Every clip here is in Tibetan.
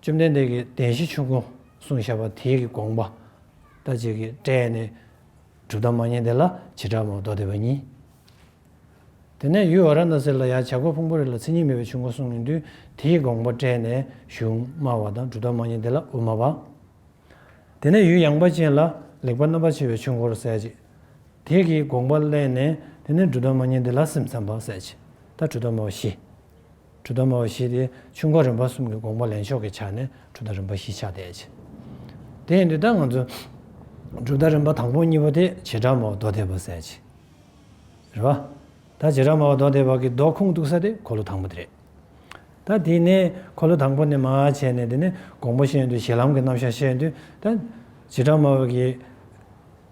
བཅོམ་ལྡན་འདས་ཀྱིས་བདེན་བཞི་ཆོས་ཀུན་གསུང་བཤད་པ་དེའི་གི་དགོངས་པ། ལྟ་བྱེད་ཀྱི་སྒྲས་ནི། གྲུབ་དང་མ་བསྙེན་དེ་ལ་བྱེ་བྲག་མ་རྡོ་སྡེ་བ་གཉིས། དེ་ནས་ཡུལ་བ་ར་ན་སེ་ལ་ཡང་བྱ་རྒོད་ཕུང་པོ་རེ་ལ་ཚིག་གཉིས་མེད་པའི་ཆོས་འཁོར་གསུང་ངེས་འདུན་དེའི་གི་དགོངས་པ་སྤྲད་ནས་གཞུང་སྨྲ་བ་དང་གྲུབ་དང་མ་བསྙེན་དེ་ལ་དབུ་མ་པ། དེ་ནས་ཡུལ་ཡངས་པ་ཅན་ལ་ལེགས་པར་རྣམ་པར་ཕྱེ་བའི་ཆོས་འཁོར་གསལ་བྱེད་དེའི་གི་དགོངས་པ་གླན་ནས་དེ་ནས་གྲུབ་དང་མ་བསྙེན་དེ་ལ་སེམས་ཙམ་པ་གསལ་བྱེད་ལྟར་གྲུབ་དང་མ་བ་བཞི། གྲུ་དང་མ་བ་བཞི་སྟེ་ཆུང་ག་རིམ་པ་གསུམ་གྱི་དགོངས་པ་ལེན་ཕྱོགས་ཀྱི་ཆ་ནས་གྲུ་དང་རིམ་པ་བཞི་ཆགས་བསྡད། དེ་ཡིན་དུས་ད་ང་ཚོས་གྲུ་དང་རིམ་པ་དང་པོ་གཉིས་པ་དེ་བྱེ་བྲག་མ་བ་རྡོ་སྡེ་བར་གསལ་བྱེད་རེད། བ་ད་བྱེ་བྲག་མ་བ་རྡོ་སྡེ་བར་གྱི་རྡོ་ཁུངས་གཏུགས་ས་དེ་འཁོར་ལོ་དང་པོ་དེ་རེད། ད་དེ་ནས་འཁོར་ལོ་དང་པོ་ནས་མ་བྱས་ནས་དེ་ནས་དགོངས་པ་བཤད་ཡོན་དུས་ཞེ་ལམ་གྱི་རྣམ་གཞག་བཤད་ཡོན་དུས་ད་བྱེ་བྲག་མ་བ་བར་གྱི།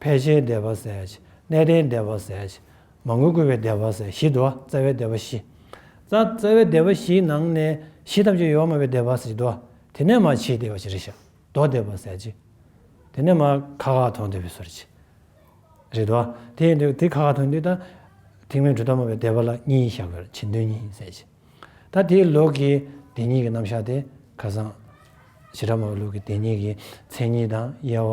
ཕལ་ཆེར་བདེ་བར་གསལ། གནས་བརྟན་བདེ་བར་གསལ། མ་དངུལ་བཀོལ་བའི་བདེ་བར་གསལ་བཞི་དོ། རྩ་བའི་བདེ་བ་བཞི། རྩ། རྩ་བའི་བདེ་བ་བཞིའི་ནང་ནས་བཞི་ཐམས་ཅད་ཡོད་མ་བའི་བདེ་བར་གསལ་བཞི་དོ། དེ་ནས་མ་ཕྱིའི་བདེ་བ་བཞི་རེ་ཞག་བདོ་བདེ་བར་གསལ་བཞི། དེ་ནས་མ་ཁ་ཁ་ཐོན་བདེ་བའི་སོར་བཞི། རེ་དོ། དེ་ཡིན་དུས་དེ་ཁ་ཁ་ཐོན་དུས་ད། ཐིག་མེད་གྲུ་ཐོགས་མ་བའི་བདེ་བ་ལ་གཉིས་ཞག་བར་ཕྱིན་དོན་གཉིས་གསལ་བཞི། ད་དེའི་ལུགས་ཀྱི་བདེན་གཉིས་ཀྱི་རྣམ་གཞག་དེ་ཁ་སང། བཞི་ཕྲ་མོ་བའི་ལུགས་ཀྱི་བདེན་གཉིས་ཀྱི་མཚན་ཉིད་དང་དབྱེ་བ།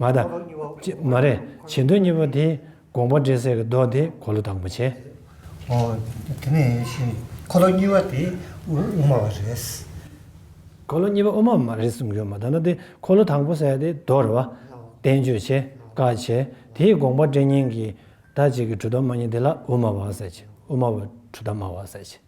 མ་དང། མ་རེད། བྱེད་འདོད་གཉིས་པོ་དེ་དགོངས་པ་འགྲེལ་ཟེར་གྱི་མདོ་དེ་གོ་ལོ་དང་པོ་བྱེད། ཨོ། དེ་ནས་ཤེས། འཁོར་ལོ་གཉིས་པ་དེ་དབུ་མ་བ་རེད། འཁོར་ལོ་གཉིས་པ་དབུ་མ་མ་རེད་གསུངས་ཡོད་མ་ད་ན་དེ་འཁོར་ལོ་དང་པོ་ཟེར་དེ་མདོ་རེད་བ། བསྟན་བཅོས་བྱེད་བཀའ་བྱེད་དེ་དགོངས་པ་འགྲེལ་གཉིས་ཀྱི་ད་ཅིག་གི་གྲུ་དང་མ་གཉིས་དེ་ལ་དབུ་མ་བ་ཟེར་གྱི་དབུ་མ་བ་གྲུ་དང་མ་བ་ཟེར་གྱི།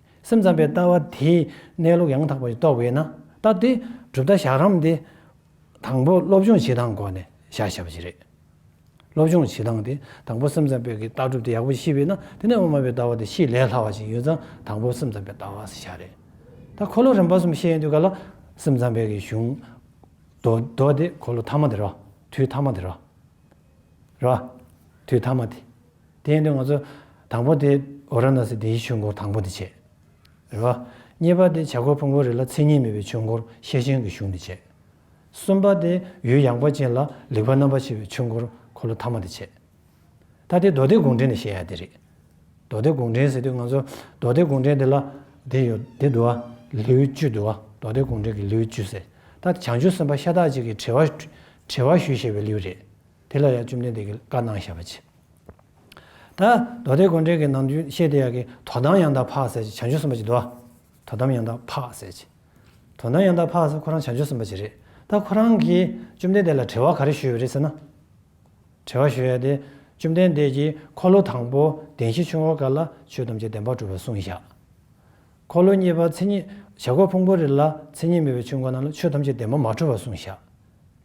སེམས་ཙམ་པའི་ལྟ་བ་དེས་གནས་ལུགས་ཡང་དག་པར་རྟོགས་པས་ན་སྟབས་བདེ། གྲུབ་མཐའ་བཞག་རམ་དེ། དང་པོ་སློབ་སྦྱོང་བྱེད་སྟངས་སྒོ་ནས་བཞག་བྱ་བ་བཞི་རེད། སློབ་སྦྱོང་བྱེད་སྟངས་དེ་དང་པོ་སེམས་ཙམ་པའི་ཀྱི་ལྟ་གྲུབ་དེ་ཡག་པོ་ཤེས་པས་ན་དེ་ནས་དབུ་མ་པའི་ལྟ་བ་དེ་ཤེས་ལས་སླ་བ་ཞིག་ཡོད་ཙང་དང་པོ་སེམས་ཙམ་པའི་ལྟ་བ་ཞེས་བྱ་རེད། ད་འཁོར་ལོ་རིམ་པ་གསུམ་བཤད་ཡོད་དུས་ག་ལ་སེམས་ཙམ་པའི་ཀྱི་གཞུང། མདོ་མདོ་དེ་འཁོར་ལོ་ཐ་མ་དེ་རོ། དུས་ཐ་མ་དེ་རོ། རོ། དུས་ཐ་མ་དེ། དེ་ནི་ང་ཚོ་དང་པོ་དེ་ཨོ་ར་ན་སི་དེའི་ཆོས་འཁོར་དང་པོ་དེ་བྱས། རེད་བ། གཉིས་པ་དེ་བྱ་རྒོད་ཕུང་པོ་རེ་ལ་མཚན་ཉིད་མེད་པའི་ཆོས་འཁོར་ཤེར་ཕྱིན་གྱི་གཞུང་དེ་བྱས། གསུམ་པ་དེ་ཡུལ་ཡངས་པ་ཅན་ལ་ལེགས་པ་རྣམ་པར་ཕྱེ་བའི་ཆོས་འཁོར་འཁོར་ལོ་ཐ་མ་དེ་བྱས། ད་དེ་མདོ་སྡེ་དགོངས་འགྲེལ་ནས་བཤད་ཡ་དེ་རེད། མདོ་སྡེ་དགོངས་འགྲེལ་ཟེར་དུས་ང་ཚོ་མདོ་སྡེ་དགོངས་འགྲེལ་དེ་ལ་དེ་ཡོད་དེ་འདུག་ཨ། ལེའུ་བཅུ་འདུག་ཨ་མདོ་སྡེ་དགོངས་འགྲེལ་གྱི་ལེའུ་བཅུ་ཟེར་ད་དེ་བྱང་ཆུབ་སེམས་དཔའ་ཤ་སྟག་ཅིག་གིས་དྲི་བ་དྲི་བ་ཞུས་ཞེས་པའི་ལེའུ་རེད། དེ་ལ་ཡང་བཅོམ་ལྡན་འདས་ཀྱིས་བཀའ་གནང་བཤད་པ་ཇི་ལྟ། མདོ་སྡེ་དགོན་འདྲེན་གྱི་ནང་རྒྱུན་བཤད་དེ་ཡག་གི་དོ་དམ་ཡང་དག་འཕགས་ཟེར་གྱི་བྱང་ཆུབ་སེམས་དཔའ་ཅིག་འདུག་དོ་དམ་ཡང་དག་འཕགས་ཟེར་གྱི། དོ་དམ་ཡང་དག་འཕགས་ཟེར་ཁོ་རང་བྱང་ཆུབ་སེམས་དཔའ་ཅིག་རེད་ད་ཁོ་རང་གིས་བཅོམ་ལྡན་འདས་ལ་དྲི་བ་ག་རེ་ཞུས་ཡོད་རེད་ཟེར་ན། དྲི་བ་ཞུས་ཡག་དེ་བཅོམ་ལྡན་འདས་ཀྱིས་འཁོར་ལོ་དང་པོ་གདན་བཞི་ཆུང་བ་འགའ་ལ་ཆོས་ཐམས་ཅད་བདེན་པར་གྲུབ་པར་གསུངས་བཞག་འཁོར་ལོ་གཉིས་པ་མཚན་ཉིད་བྱ་རྒོད་ཕུང་པོ་རེ་ལ་མཚན་ཉིད་མེད་པའི་ཆོས་འགའ་རྣམས་ལ་ཆོས་ཐམས་ཅད་བདེན་པར་མ་གྲུབ་པར་གསུངས་བཞག།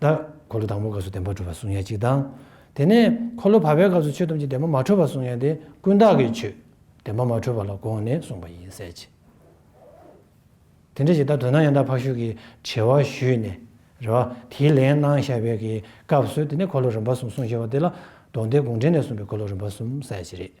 བདག། འཁོར་ལོ་དང་པོའི་སྐབས་སུ་བདེན་པ་གྲུབ་པར་གསུངས་ཡ་གཅིག་དང། དེ་ནས་འཁོར་ལོ་བར་པའི་སྐབས་སུ་ཆོས་ཐམས་ཅད་བདེན་པ་མ་འཕྲོད་པར་གསུངས་ཡ་དེ་ཀུན་བརྟགས་ཀྱི་ཆོས་བདེན་པ་མ་འཕྲོད་པ་ལ་དགོངས་ནས་གསུངས་པ་ཡིན་གསལ་བྱེད། དེ་འདྲ་ཞིག་ད་དོན་ན་ཡང་དག་འཕགས་ཤུལ་གྱི་དྲི་བ་ཞུས་ནས་རེ་བ་དེའི་ལན་གནང་བཞག་པའི་གི་སྐབས་སུ་དེ་ནས་འཁོར་ལོ་རིམ་པ་གསུམ་གསུངས་ཞེས་པ་དེ་ལ་དོགས་འདི་དགོངས་འགྲེལ་ནས་གསུངས་པའི་འཁོར་ལོ་རིམ་པ་གསུམ་གསལ་བྱེད་རེད།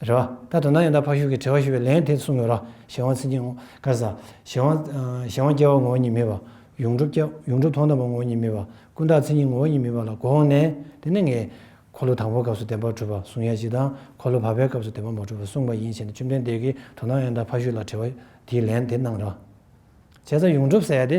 རེ་བ། ད་དོ་ན་ཡང་དག་ཕ་ཤུལ་གྱི་དྲི་བ་ཞུ་བའི་ལན་དེ་གསུང་དགོས་རོགས་གཞན་དབང་ཚིག་འགྱིང་ངོ། དཀར་གཟའ། གཞན་དབང། གཞན་དབང་སྐྱེ་བ་ངོ་བོ་ཉིད་མེད་པ། ཡོངས་གྲུབ་སྐྱེ། ཡོངས་གྲུབ་ཐོག་མཐའ་བ་ངོ་བོ་ཉིད་མེད་པ། ཀུན་བརྟགས་མཚན་ཉིད་ངོ་བོ་ཉིད་མེད་པ་ལ་གོ་འོང་ནས། དེ་ནི་ངས། འཁོར་ལོ་དང་པོའི་སྐབས་སུ་བདེན་པར་གྲུབ་པ་གསུང་ཡ་གཅིག་དང། འཁོར་ལོ་བར་པའི་སྐབས་སུ་བདེན་པར་མ་གྲུབ་པ་གསུངས་པ་ཡིན་བྱས་ནས་བཅོམ་ལྡན་འདས་ཀྱིས་དོ་ན་ཡང་དག་ཕ་ཤུལ་ལ་དྲི་བ། དེའི་ལན་དེ་གནང་རོགས། བྱས་ཙང་ཡོངས་གྲུབ་ཟེར་ཡ་དེ།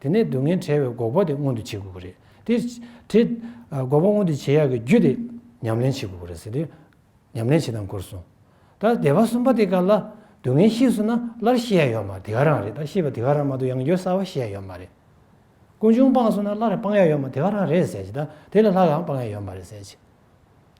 དེ་ནས་སྡུག་བསྔལ་བྲལ་བའི་འགོག་པ་དེ་མངོན་དུ་བྱེད་དགོས་ཀྱི་རེད། དེ། དེ། འགོག་པ་མངོན་དུ་བྱེད་ཡག་གི་རྒྱུ་དེ། ཉམས་ལེན་བྱེད་དགོས་ཀྱི་རེད་ཟེར་ཏེ། ཉམས་ལེན་བྱེད་སྟངས་སྐོར་གསུངས། ད་བདེ་བ་གསུམ་པ་དེ་ག་ལ། སྡུག་བསྔལ་ཤེས་བཟོད་ན་སླར་ཤེས་ཡ་ཡོད་མ་རེད་དེ་ག་རང་རེད་ད་ཤེས་པ་དེ་ག་རང་མ་གཏོགས་ཡང་ཡོད་གསར་བ་ཤེས་ཡ་ཡོད་མ་རེད། ཀུན་འབྱུང་སྤངས་བཟོད་ན་སླར་སྤང་ཡ་ཡོད་མ་དེ་ག་རང་རེད་ཟེར་གྱི་ད་དེ་ལ་ལྷག་གང་སྤང་ཡ་ཡོད་མ་རེད་ཟེར་གྱི།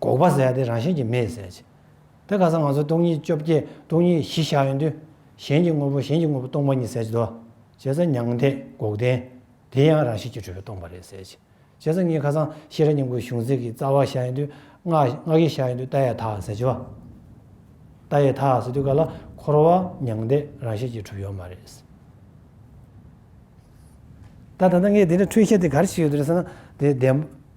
འགོག་པ་ཟད་དེ་རང་བཞིན་གྱིས་མེད་ཟད་ཅིང། དེ་ག་སང་ང་ཚོ་སྟོང་ཉིད་བཅོ་བརྒྱད་སྟོང་ཉིད་བཞི་བཞག་ཡོད་དུས། གཞན་གྱི་དངོས་པོ་གཞན་གྱི་དངོས་པོ་སྟོང་པ་ཉིད་ཟད་ཅི་དོ། བྱས་ཙང་མྱང་འདས་འགོག་བདེན། དེ་ཡང་རང་བཞིན་གྱིས་གྲོལ་བས་སྟོང་པ་རེད་ཟད་ཅིང། བྱས་ཙང་ངས་ཁ་སང་ཤེས་རབ་སྙིང་པོའི་གཞུང་ཚིག་གི་རྩ་བ་བཞག་ཡོད་དུས། སྔགས་ཀྱི་བཞག་ཡོད་དུས་རྟ་ཡི་དག་ཟད་ཅི་བ། རྟ་ཡི་དག་ཟེར་དུས་ག་ལ་འཁོར་བ་མྱང་འདས་རང་བཞིན་གྱིས་གྲུབ་ཡོད་མ་རེད། ད་ད་ལྟ་ངས་དེ་འདྲའི་འཁྲུལ་ཤེས་དེ་ག་རེ་བྱས་ཡོད་རེད་ཟེར་ན་དེ་བདེན།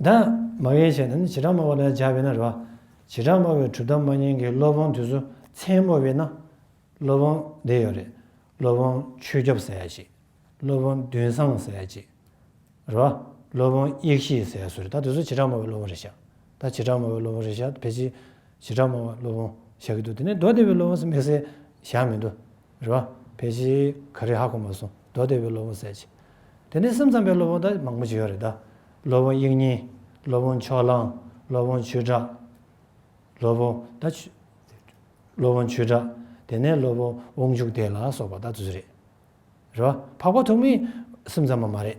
བདག། མ་བའི་ཆེད་དུ་ནི་བྱེ་བྲག་སྨྲ་བ་ལ་སྦྱར་བས་ན་རེ་བ། བྱེ་བྲག་སྨྲ་བའི་གྲུབ་མཐའ་མ་ཡིན་གྱི་སློབ་དཔོན་དུས་སུ་མཚན་སྨོས་པས་ན། སློབ་དཔོན་བདེ་ཡོད་རེ། སློབ་དཔོན་ཆོས་སྐྱོབ་ཟས་ཅིག། སློབ་དཔོན་བདུན་བཟང་ཟས་ཅིག། རེ་བ། སློབ་དཔོན་དབྱིག་བཞིའི་ཟས་སུ་རེ་ད་དུས་སུ་བྱེ་བྲག་སྨྲ་བའི་སློབ་དཔོན་རེ་བཞག་ད་བྱེ་བྲག་སྨྲ་བའི་སློབ་དཔོན་རེ་བཞག་བེ་ཅི། བྱེ་བྲག་སྨྲ་བ་སློབ་དཔོན་བཞག་གི་འདུག་དེ་ནས་མདོ་སྡེ་བའི་སློབ་དཔོན་སུ་དམིགས་བསལ་བཞག་མི་འདུག། རེད་བ། ཕལ་ཆེར་ག་རེ་ཧ་གོ་མ་སོང་མདོ་སྡེ་བའི་སློབ་དཔོན་གསལ་བྱེད། དེ་ནས་སེམས་ཙམ་པའི་སློབ་དཔོན་དག་མང་པོ་ཞིག་ཡོད་རེད་ད། སློབ་དཔོན་དབྱིག་གཉེན། སློབ་དཔོན་མཆོག་གླང། སློབ་དཔོན་ཆོས་གྲགས། སློབ་དཔོན། ད། སློབ་དཔོན་ཆོས་གྲགས། དེ་ནས་སློབ་དཔོན་དབང་ཕྱུག་སྡེ་ལ་སོགས་པ་དག་ཚུད་རེད། རེད་བ། འཕགས་པ་ཐོགས་མེད་སེམས་ཙམ་པ་མ་རེད།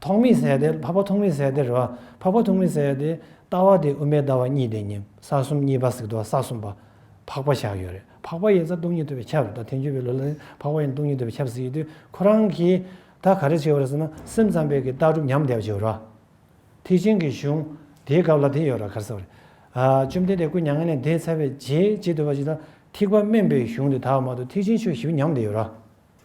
ཐོག་མི་ཟད་དེ་འཕགས་པ་ཐོག་མི་ཟད་དེ་རེད་བ། འཕགས་པ་ཐོག་མི་ཟད་དེ། ལྟ་བ་དེ་དབུ་མའི་ལྟ་བ་གཉིས་དེ་ཉིད་ས་གསུམ་གཉིས་པ་གཟིགས་རྟོག་ས་གསུམ་པ། འཕགས་པ་བཞག་ཡོད་རེད་འཕགས་པ་ཡིན་ས་སྟོང་ཉིད་ཐོབ་པའི་ཁྱབ་རེད་ད་ཐེངས་བརྒྱུད་པའི་ལོ་ལ་ནི་འཕགས་པ་ཡིན་སྟོང་ཉིད་ཐོབ་པའི་ཁྱབ་གཟིགས་ཡོད་དུས་ཁོ་རང་གིས་ད་ག་རེ་བྱས་ཡོད་རེད་ཟེར་ན་སེམས་ཙམ་པས་ཀྱི་ལྟ་གྲུབ་ཉམས་བསྡད་པ་ཞིག་རེད་བ། ཐེག་ཆེན་གྱི་གཞུང་དེའི་སྐབས་ལ་དེ་ཡོད་རེད་གར་ཟེར་བ་རེད། བཅོམ་ལྡན་འདས་སྐུ་མྱ་ངན་ལས་འདས་ཚར་བའི་རྗེས་བྱེད་དུ་བ་ཞིག་ལ་ཐེག་པ་དམན་པའི་གཞུང་དེ་དག་མ་གཏོགས་ཐེག་ཆེན་ཆོས་བཞི་པོ་ཉམས་བསྡད་ཡོད་རེད་བ།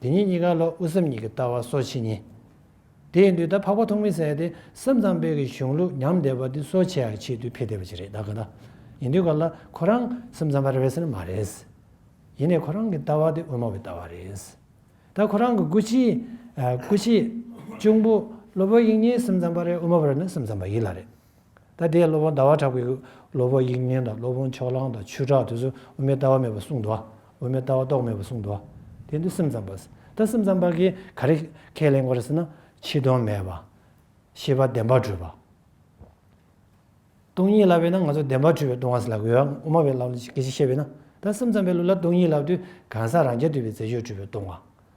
དེ་ཉིད་གཉིས་ཀ་ལ་དབུ་སེམས་གཉིས་ཀྱི་ལྟ་བ་སོ་ཕྱེད་གཉིས། དེ་ཡིན་དུས་ད་འཕགས་པ་ཐོག་མི་ཟད་དེ་སེམས་ཙམ་དཔལ་གྱི་གཞུང་ལུགས་ཉམས་བསྡད་པ་དེ་སོ་ཕྱེད་ཡར་ཕྱེད་དུས་འཕེལ་བསྡད་པ་ཅིག་རེད་ད་ག་ད་ཡིན་དུས་ག་ལ་ཁོ་རང་སེམས་ཙམ་པ་རེད་ཟེར་ན་མ་རེད། ཡིན་ནས་ཁོ་རང་གི་ལྟ་བ་དེ་དབུ་མ་བའི་ལྟ་བ་རེད། ད་ཁོ་རང་གི་སྐུ་ཕྱི། སྐུ་ཕྱི། གཅུང་པོ། སློབ་བུ་ཡིག་གཉིས་སེམས་ཙམ་པ་རེད་དབུ་མ་བ་རེད་ན་སེམས་ཙམ་པ་ཡིད་ལ་རེད། ད་ལྟའི་སློབ་དཔོན་ཟླ་བ་གྲགས་པའི་སློབ་བུ་དབྱིག་གཉེན་དང་སློབ་དཔོན་ཕྱོགས་གླང་དང་ཆོས་གྲགས་དེ་ཚོས་དབུ་མའི་ལྟ་བ་མེད་པར་གསུངས་འདུག་དབུ་མའི་ལྟ་བ་རྟོགས་མེད་པར་གསུངས་འདུག་དེ་འདི་སེམས་ཙམ་པ། ད་སེམས་ཙམ་པ་གིས་ག་རེ་ཁས་ལེན་དགོས་རེད་ཟེར་ན། ཕྱི་དོན་མེད་པ། ཤེས་པ་བདེན་པར་གྲོལ་བ། སྟོང་ཉིད་བསླབ་པས་ན་ང་ཚོ་བདེན་པར་གྲོལ་བའི་སྟོང་བ་ཟེར་ལབ་དགོས་ཨ། དབུ་མ་བས་བསླབ་ན་གལ་ཆེ་ཤེས་པས་ན། ད་སེམས་ཙམ་པའི་ལུགས་ལ་སྟོང་ཉིད་བསླབ་དུས་གང་ཟག་རང་རྐྱ་འདུས་པའི་རྫས་ཆོས་གྲུབ་པའི་སྟོང་བ།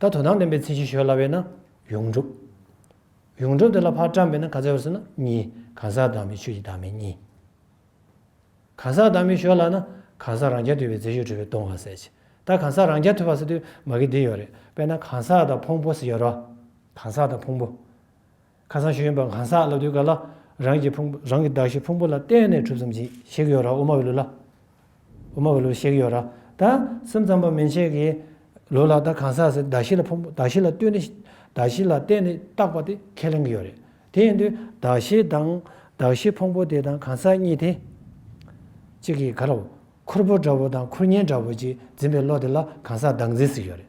ད་དོ་སྣང་བདེན་པའི་མཚན་གཞི་ཞོལ་སླ་བས་ན་ཡོངས་གྲུབ། ཡོངས་གྲུབ་དེ་ལ་ཕར་བཀྲམ་པས་ན་ག་ཚད་བར་སོང་ན་གཉིས་གང་ཟག་བདག་མེད་ཆོས་ཀྱི་བདག་མེད་གཉིས། གང་ཟག་བདག་མེད་ཞོལ་སླ་ན་གང་ཟག་རང་རྐྱ་ཐུལ་བའི་རྫས་ཞོལ་གྲོལ་བས་སྟོང་བར་ཟད་ཀྱི། ད་གང་ཟག་རང་རྐྱ་ཐུལ་བར་ཟད་དུས་མ་གི་འདི་ཡོད་རེད་པས་ན་གང་ཟག་དང་ཕུང་པོ་ཟེར་ཡོད་རོ། གང་ཟག་དང་ཕུང་པོ། ཁ་སང་ཤེས་ཡོན་པ་གང་ཟག་སློབ་དུས་སྐབས་ལ་རང་གི་ཕུང་པོ་རང་གི་གདགས་གཞི་ཕུང་པོ་ལ་བརྟེན་ནས་གྲུབ་ཙམ་གྱིས་ཤེས་ཀྱི་ཡོད་ར་དབུ་མ་བའི་ལུགས་ལ་དབུ་མ་བའི་ལུགས་ཤེས་ཀྱི་ཡོད་ར་ད་སེམས་ཙམ་པ་མན་ཆད་ཀྱི་ལུགས་ལ་ད་གང་ཟག་ཟེར་གདགས་གཞི་ལ་ཕུང་པོ་གདགས་གཞི་ལ་ལྟོས་ནས་གདགས་གཞི་ལ་བརྟེན་ནས་བཏགས་པ་དེ་ཁས་ལེན་གྱི་ཡོད་རེད་དེ་ཡིན་དུས་གདགས་གཞི་དང་གདགས་གཞི་ཕུང་པོ་དེ་དང་གང་ཟག་གཉིས་དེ་གཅིག་གི་ག་ར་བོ་ཁུར་པོ་འདྲ་བོ་དང་ཁུར་ཉེན་འདྲ་བོ་ཅིག་འཛིན་པའི་བློ་དེ་ལ་གང་ཟག་བདག་འཛིན་ཟེར་གྱི་ཡོད་རེད།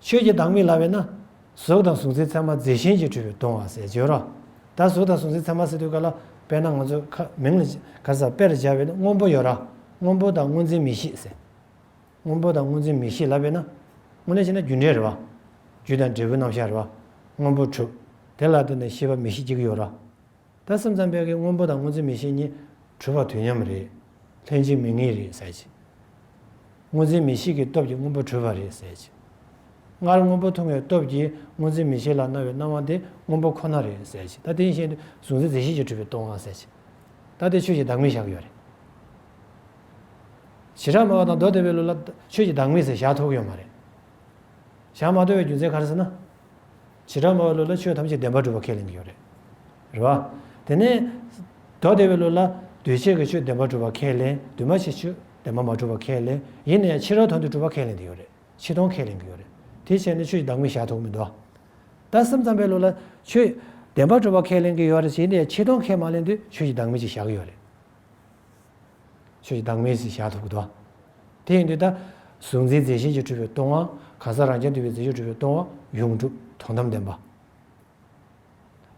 ཆོས་ཀྱི་བདག་མེད་ལ་བས་ན། གཟུགས་དང་གཟུགས་མཛེས་ཚད་མ་མཛེས་ཤིང་གྱིས་བྲིས་པའི་གདུང་བ་ཟེར་བརྗོད་རོ། ད་གཟུགས་དང་གཟུགས་མཛེས་ཚད་མ་ཟེར་དུས་ག་ལ་དཔེར་ན་ང་ཚོས་ཁ་མིང་ལ་ག་ས་དཔེར་སྦྱར་བའི་སྔོན་པོ་ཡོད་ར། སྔོན་པོ་དང་སྔོ་འཛིན་མི་ཤིས་ཟེར། སྔོན་པོ་དང་སྔོ་འཛིན་མི་ཤིས་ལ་བས་ན། སྔོ་ནས་བྱས་ན་རྒྱུ་འབྲས་རེད་བ། རྒྱུ་དང་འབྲས་བུའི་རྣམ་གཞག་རེད་བ། སྔོན་པོ་དྲུག། དེ་ལ་བརྟེན་ནས་ཤེས་པ་མི་ཤིས་གཅིག་ཡོད་ར། ད་སེམས་ཙམ་པས་ཀྱི་སྔོན་པོ་དང་སྔོན་ཚེ་མི་ཤེས་གཉིས་འཁྲུལ་བ་དུས་མཉམ་རེད། ལྷན་ཅིག་མི་ངེས་རེད་ཟེར་གྱི། སྔོན་ཚེ་མི་ཤེས་ཀྱི་སྟོབས་ཀྱིས་སྔོན་པོ་འཁྲུལ་བ་རེད་ཟེར་གྱི། སྔར་སྔོན་པོ་མཐོང་བའི་སྟོབས་ཀྱིས་སྔོན་ཚེ་མི་ཤེས་ལ་སྣང་བའི་སྣང་བ་དེ་སྔོན་པོ་ཁོ་ན་རེད་ཟེར་གྱི་ད་དེ་ཡིན་ཤེས་ནས་གཟུང་འཛིན་རྫས་ཤེས་ཀྱིས་འཁྲུལ་བའི་སྟོང་བ་ཟེར་གྱི། ད་དེ་ཆོས་ཀྱི་བདག་མེད་བཞག་ཡོད་རེད། བྱེ་བྲག་སྨྲ་བ་དང་མདོ་སྡེ་པའི་ལུགས་ལ་ཆོས་ཀྱི་བདག་མེད་ཟེར་བཞག་ཐོགས་ཡོད་མ་རེད། བཞག་མ་ཐོགས་པའི་རྒྱུ་མཚན་ག་རེ་ཟེར་ན། བྱེ་བྲག་སྨྲ་བའི་ལུགས་ལ་ཆོས་ཐམས་ཅད་བདེན་པར་གྲུབ་པར་ཁས་ལེན་གྱི་ཡོད་རེད། རེད་བ། དེ་ནས། མདོ་སྡེ་བའི་ལུགས་ལ། འདུས་བྱས་ཀྱི་ཆོས་བདེན་པར་གྲུབ་པར་ཁས་ལེན། འདུས་མ་བྱས་ཆོས་བདེན་པར་མ་གྲུབ་པར་ཁས་ལེན། ཡིན་ན་ཡང་ཕྱི་རོལ་དོན་དུ་གྲུབ་པར་ཁས་ལེན་གྱི་ཡོད་རེད། ཕྱི་སྟོང་ཁས་ལེན་གྱི་ཡོད་རེད། དེའི་ཕྱིར་ནི་ཆོས་ཀྱི་བདག་མེད་བཞག་ཐུབ་མི་འདུག་ད། སེམས་ཙམ་པའི་ལུགས་ལ། ཆོས་བདེན་པར་གྲུབ་པར་ཁས་ལེན་གྱི་ཡོད་རེད། ཡིན་ན་ཡང་ཕྱི་སྟོང་ཁས་མ་ལེན་དུས་ཆོས་ཀྱི་བདག་མེད་ཅིག་བཞག་གི་ཡོད་རེད། ཆོས་ཀྱི་བདག་མེད་ཟིན་བྱ་ཐུག་གི་དོན། དེ་ཡིན་དུས་ད། གཟུགས་འཛིན་རྫས་བཞིན་གྱིས་འཁྲུལ་པའི་སྟོང་བ། གང་ཟག་རང་རྐྱ་འདུས་པའི་རྫས་གཅོད་འཁྲུལ་པའི་སྟོང་བ། ཡོངས་གྲུབ་དོན་དམ་བདེན་པ།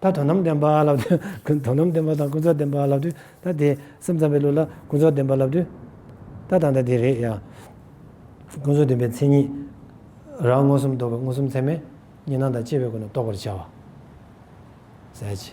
ད་དོན་དམ་བདེན་པ་ལབ་དུས། དོན་དམ་བདེན་པ་དང་ཀུན་རྫོབ་བདེན་པ་ལབ་དུས། ད་དེ། སེམས་ཙམ་པའི་ལུགས་ལ་ཀུན་རྫོབ་བདེན་པ་ལབ་དུས། ད་དང་ད་དེ་རེད་ཡ། ཀུན་རྫོབ་བདེན་པའི་མཚན་ཉིད། རང་མངོན་སུམ་རྟོགས་པའི་མངོན་སུམ་ཚད་མས། གཉིས་སྣང་དང་བཅས་པའི་སྒོ་ནས་རྟོགས་པར་བྱ་བ། གསལ་བྱེད།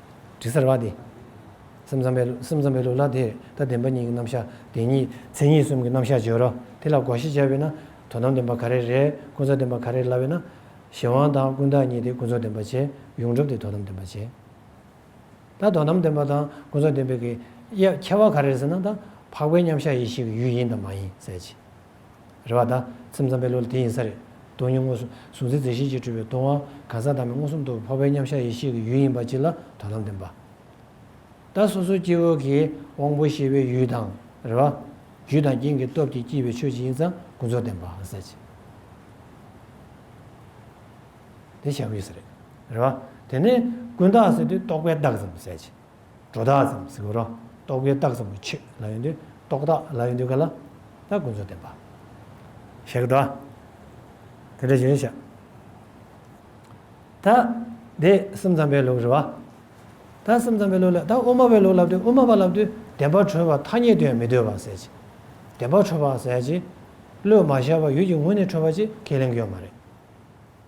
དྲི་གསར་བ་དེ། སེམས་ཙམ་པའི་སེམས་ཙམ་པའི་ལུགས་ལ་དེ་ལྟར་བདེན་པ་གཉིས་ཀྱི་རྣམ་གཞག་དེ་ཉིད་མཚན་ཉིད་གསུམ་གྱི་རྣམ་གཞག་སྦྱོར་རོ། དེ་ལ་དགོངས་གཞི་བྱ་བས་ན་དོན་དམ་བདེན་པ་ག་རེ་རེད་ཀུན་རྫོབ་བདེན་པ་ག་རེ་ལ་བས་ན། གཞན་དབང་དང་ཀུན་བརྟགས་གཉིས་དེ་ཀུན་རྫོབ་བདེན་པ་བྱེད་ཡོངས་གྲུབ་དེ་དོན་དམ་བདེན་པ་བྱེད། ད་དོན་དམ་བདེན་པ་དང་ཀུན་རྫོབ་བདེན་པའི་ཁྱད་པར་ག་རེ་རེད་ཟེར་ན་ད་འཕགས་པའི་མཉམ་གཞག་ཡེ་ཤེས་ཀྱི་ཡུལ་ཡིན་དང་མ་ཡིན་གསལ་བྱེད། རེ་བ་དང། སེམས་ཙམ་པའི་ལུགས་ལ་དེ་ཡིན་ས་རེད། དོན་སྙིང་དངོས་སུ། གཟུང་འཛིན་རྩི་ཤིང་གཅིག་སྤྲུལ་པའི་སྟོང་བ། གང་ཟག་དག་མའི་མངོན་སུམ་དུ་འཕོ་བའི་མཉམ་གཞག་ཡེ་ཤེས་ཀྱི་ཡུལ་ཡིན་པ་གཅིག་ལ་དོ་དམ་བསྟན་པ། ད་སོ་སོའི་སྐྱེ་བོ་གིས་དབང་པོ་ཤེས་པའི་ཡུལ་དང། རེ་བ། རྒྱུ་དང་རྐྱེན་གྱི་སྟོབས་ཀྱིས་སྐྱེས་པའི་ཆོས་གཅིག་ཡིན་ཙམ་ཀུན་རྫོབ་བསྟན་པ། ཟད་ཅིག། དེ་བྱ་བ་ཡིན་ས་རེད། རེ་བ། དེ་ནས་ཀུན་བརྟགས་ཟེར་དུས་རྟོག་པའི་བདག་ཙམ། ཟད་ཅིག། སྒྲོ་བཏགས་ཙམ་གཟིགས་པར་རྟོག་གེའི་རྟགས་ཙམ་དུ་ཆེད་ལ་ཡོད་འདོད་རྟོག་བཏགས་ལ་ཡོད་འདོད་ག་ལ་ད་ཀུན་རྫོབ་བདེན་པ། ཞེས་གདའ། དེ་འདྲ་བྱས་ཤག། ད། དེ་སེམས་ཙམ་པའི་ལུགས་རེད་བ། ད་སེམས་ཙམ་པའི་ལུགས་ལས་ད་དབུ་མ་པའི་ལུགས་ལབ་དུས་དབུ་མ་པ་ལབ་དུས་བདེན་པར་གྲོལ་བ་ཐ་སྙད་དོན་མི་འདོད་པ་ཟེར་གྱི། བདེན་པར་གྲོལ་བ་ཟེར་གྱི། བློས་མ་ཤར་བར་ཡུལ་གྱི་ངོས་ནས་གྲོལ་བ་ཅེས་ཁས་ལེན་གྱི་ཡོད་མ་རེད།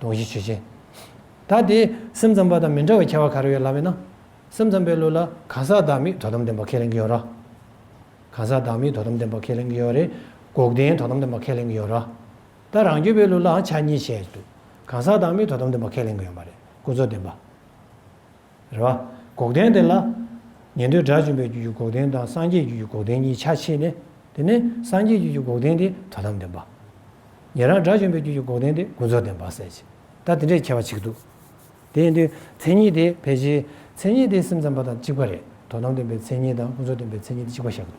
དོགས་གཞི་ཇི་བཞིན། ད་དེ་སེམས་ཙམ་པ་དང་མི་འདྲ་བའི་ཁྱད་པར་ག་རེ་ཡོད་ལབ་མེད་ན། སེམས་ཙམ་པའི་ལུགས་ལ་གང་ཟག་བདག་མེད་དོ་དམ་ལྡན་པ་ཁས་ལེན་གྱི་ཡོད་ར། གང་ཟག་བདག་མེད་དོ་དམ་ལྡན་པ་ཁས་ལེན་གྱི་ཡོད་རེད། འགོག་བདེན་དོ་དམ་ལྡན་པ་ཁས་ལེན་གྱི་ཡོད་ར། ད་རང་རྒྱུད་པའི་ལུགས་ལའང་ཆ་གཉིས་བྱས་འདུག་གང་ཟག་བདག་མེད་དོ་དམ་ལྡན་པ་ཁས་ལེན་གྱི་ཡོད་མ་རེད་ཀུན་རྫོབ་བདེན་པ། རེད་བ། འགོག་བདེན་དེ་ལ། ཉན་ཐོས་དགྲ་བཅོམ་པའི་རྒྱུད་ཀྱི་འགོག་བདེན་དང་སངས་རྒྱས་རྒྱུད་ཀྱི་འགོག་བདེན་གཉིས་ཆ་ཕྱེས་ནས། དེ་ནས་སངས་རྒྱས་རྒྱུད་ཀྱི་འགོག་བདེན་དེ་དོན་དམ་བདེན་པ། ཉན་རང་དགྲ་བཅོམ་པའི་རྒྱུད་ཀྱི་འགོག་བདེན་དེ་ཀུན་རྫོབ་བདེན་པ་ཟེར། ད་དེ་འདྲའི་ཁྱད་པར་ཆིག་འདུག། དེ་ཡིན་དུས་མཚན་ཉིད་དེ་ཕལ་ཆེར་མཚན་ཉིད་དེ་སེམས་ཙམ་པ་དང་གཅིག་པ་རེད། དོན་དམ་བདེན་པའི་མཚན་ཉིད་དང་ཀུན་རྫོབ་བདེན་པའི་མཚན་ཉིད་དེ་གཅིག་པ་ཤར་འདུག།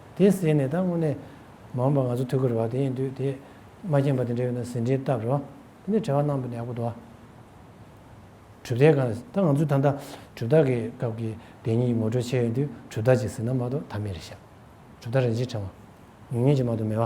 དེ་ཟེར་ནས་ད་དངོས་གནས་མ་འོངས་པ་ང་ཚོ་ཐུག་གི་རེད་བ་དེ་ཡིན་དུས་དེ་མ་མཁྱེན་པ་དེ་འདྲས་ཡོད་ན་ཟིན་བྲིས་བཏབ་རོགས་དེ་འདྲས་བྲེལ་བ་གནང་དུ་ནས་ཨ་ཁུ་དོ་གྲུབ་རྟགས་གང་ཟེར་ད་ང་ཚོའི་ད་ལྟ་གྲུབ་རྟགས་ཀྱི་སྐབས་ཀྱི་བདེན་གཉིས་ཀྱི་ངོ་སྤྲོད་བྱས་ཡོད་དུས་གྲུབ་རྟགས་གཅིག་ཟེར་ན་མ་གཏོགས་ད་མེད་རེད་ཤག་གྲུབ་རྟགས་རིན་ཆེན་ཕྲེང་བ་ཉུང་ཉུང་གཅིག་མ་གཏོགས་མེད་བ་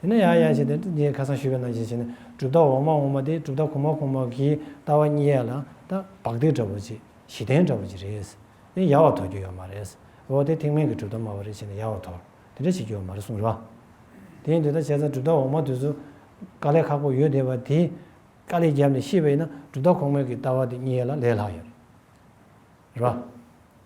དེ་ནས་ཡང་ཡང་བྱས་ཏེ་ཏིང་ངེ་ཁ་སང་ཞུས་པའི་ནང་བཞིན་བྱས་ནས་གྲུབ་མཐའ་འོག་མ་འོག་མ་སྟེ་གྲུབ་མཐའ་གོང་མ་གོང་མ་གི་ལྟ་བ་གཉིས་ཡལ་ལ་ལྟ་བག་སྟེ་འདྲ་བོ་ཅིག་གཞི་རྟེན་འདྲ་བོ་ཅིག་རེད། དེ་ཡལ་བར་དོར་རྒྱུ་ཡོད་མ་རེད། འོ་དེ་ཐེག་དམན་གྱི་གྲུབ་མཐའ་སྨྲ་བ་རེད་བྱས་ནས་ཡལ་བར་དོར་དེ་འདྲ་བྱེད་རྒྱུ་ཡོད་མ་རེད་གསུངས་ལ། དེ་ཡིན་དུས་ད་བྱས་ཙང་གྲུབ་མཐའ་འོག་མ་དུས་སུ་དཀའ་ལས་ཁག་པོ་ཡོད་བསྡད་པ་དེ་དཀའ་ལས་བརྒྱབ་ནས་ཤེས་པ་ཡིན་ན་གྲུབ་མཐའ་གོང་མའི་གི་ལྟ་བ་དེ་གཉིས་ཡལ་ལ་ལས་ལྷག་ཡོད་རེད།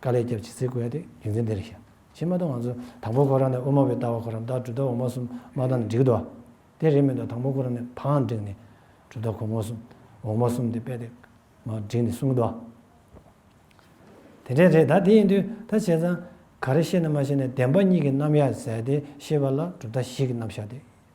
དཀའ་ལས་བརྒྱབ་ཅེས་ཚིག་བཀོལ་ཏེ་རྒྱུ་མཚན་འདི་རེ་བཤད། ཕྱི་མ་དང་ང་ཚོ་དང་པོ་ཁོ་རང་ནས་དབུ་མ་བས་ལྟ་བ་ཁོ་རང་ལྟར་གྲུབ་མཐའ་འོག་མ་གསུམ་མ་དང་ནི་འགྲིག་འདུག་ཨ། དེ་རེད་མི་འདུག་དང་པོ་ཁོ་རང་ནས་བའང་འགྲིག་ནི། གྲུབ་མཐའ་གོང་མ་གསུམ་འོག་མ་གསུམ་དེ་པས་དེ་མ་འགྲིག་ནི་གསུངས་འདུག་ཨ། དེ་འདྲའི་རེད་ད་དེ་ཡིན་དུས་ད་བྱས་ཙང་ག་རེ་ཤེས་ནས་མ་ཤེས་ནས་བདེན་པ་གཉིས་ཀྱི་རྣམ་གཞག་ཟེར་ཏེ་ཤེས་པ་ལ་གྲུབ་མཐའ་བཞི་གི་རྣམ་གཞག་དེ་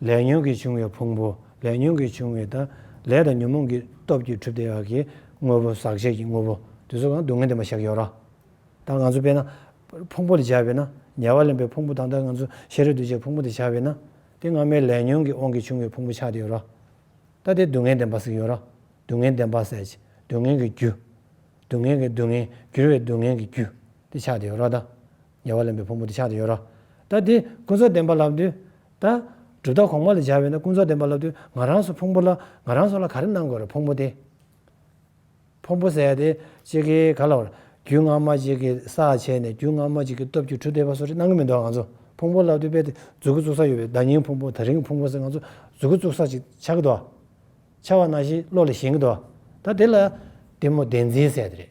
ལས་ཉོན་གྱིས་བྱུང་བའི་ཕུང་པོ་ལས་ཉོན་གྱིས་བྱུང་བའི་དང་ལས་དང་ཉོན་མོངས་ཀྱི་སྟོབས་ཀྱིས་གྲུབ་སྟེ་ཡག་གི་དངོས་པོ་ཟག་བཅས་ཀྱི་དངོས་པོ་དེ་ཚོ་གང་སྡུག་བསྔལ་འདི་མ་བཞག་ཡོད་ར། ད་ང་ཚོ་དཔེར་ན། ཕུང་པོ་ལ་བྱ་བས་ན་ཉེ་བར་ལེན་པའི་ཕུང་པོ་དང་ད་ང་ཚོ་ཤེས་རབ་འདུས་བྱས་ཕུང་པོ་དེ་བྱ་བས་ན་དེ་སྔ་མའི་ལས་ཉོན་གྱི་དབང་གིས་བྱུང་བའི་ཕུང་པོ་ཆགས་ཏེ་ཡོད་ར། ད་དེ་སྡུག་བསྔལ་བདེན་པ་ཟིག་ཡོད་ར་སྡུག་བསྔལ་བདེན་པ་ཟད་ཀྱི་སྡུག་བསྔལ་གྱི་རྒྱུ། སྡུག་བསྔལ་གྱི་སྡུག་བསྔལ་གྱུར་བའི་སྡུག་བསྔལ་གྱི་རྒྱུ་དེ་ཆགས་ཏེ་ཡོད་ར་ད་ཉེ་བར་ལེན་པའི་ཕུང་པོ་དེ་ཆགས་དུ་ཡོད་རོ། ད་དེ་ཀུན་རྫོབ་བདེན་པར་བསླབ་དུས། ད། གྲུབ་མཐའ་གོང་མ་ལ་སྦྱར་བས་ན་ཀུན་རྫོབ་བདེན་པར་བསླབ་དུས་ང་རང་སོགས་ཕུང་པོ་ལ་ང་རང་སོགས་ལ་ག་རེ་གནང་དགོས་རེད་ཕུང་པོ་དེ། ཕུང་པོ་ཟད་དེ་གཅིག་གིས་ག་ལ་བར། རྒྱུས་སྔ་མ་གཅིག་གིས་ས་བྱས་ནས་རྒྱུས་སྔ་མ་གཅིག་གི་སྟོབས་ཀྱིས་གྲུ་འདེགས་པ་སོགས་རེ་གནང་གི་མི་འདུག་ང་ཚོ་ཕུང་པོ་བསླབ་དུས་དཔེ་དེ་རྫུ་གུ་བཙུགས་ས་ཡོད་པའི་བརྡ་རྙིང་ཕུང་པོ་ད་རིང་ཕུང་པོ་ཟེར་ང་ཚོ་རྫུ་གུ་བཙུགས་ས་ཅིག་ཆགས་ཀྱི་འདུག་ཆགས་བ་ན་ཞིག་བློ་ལ་ཞེན་གྱི་འདུག་ད་དེ་ལ། གཏི་མུག་བདེན་འཛིན་ཟེར་རེད།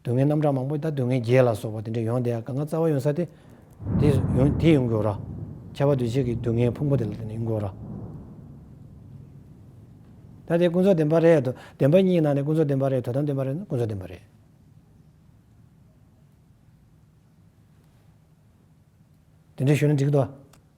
སྡུག་བསྔལ་རྣམ་གྲངས་མང་པོ་ད་སྡུག་བསྔལ་བརྒྱད་ལ་སོགས་པ་དེ་འདྲ་ཡོང་དེ་ཡང་གང་ག་རྩ་བ་ཡོང་ས་དེ། དེ་ཡོང་དེ་ཡོང་དགོས་རོགས། ཁྱད་པར་འདུས་བྱས་ཀྱི་སྡུག་བསྔལ་ཕུང་པོ་དེ་ལ་བརྟེན་ནས་ཡོང་དགོས་རོགས། ད་དེ་ཀུན་རྫོབ་བདེན་པ་རེད་དོ། བདེན་པ་གཉིས་ནང་ནས་ཀུན་རྫོབ་བདེན་པ་རེད་དོ་དམ་བདེན་པ་རེད་ན་ཀུན་རྫོབ་བདེན་པ་རེད། དེ་འདྲ་ཞུ་ན་འགྲིག་གི་འདུག་བ།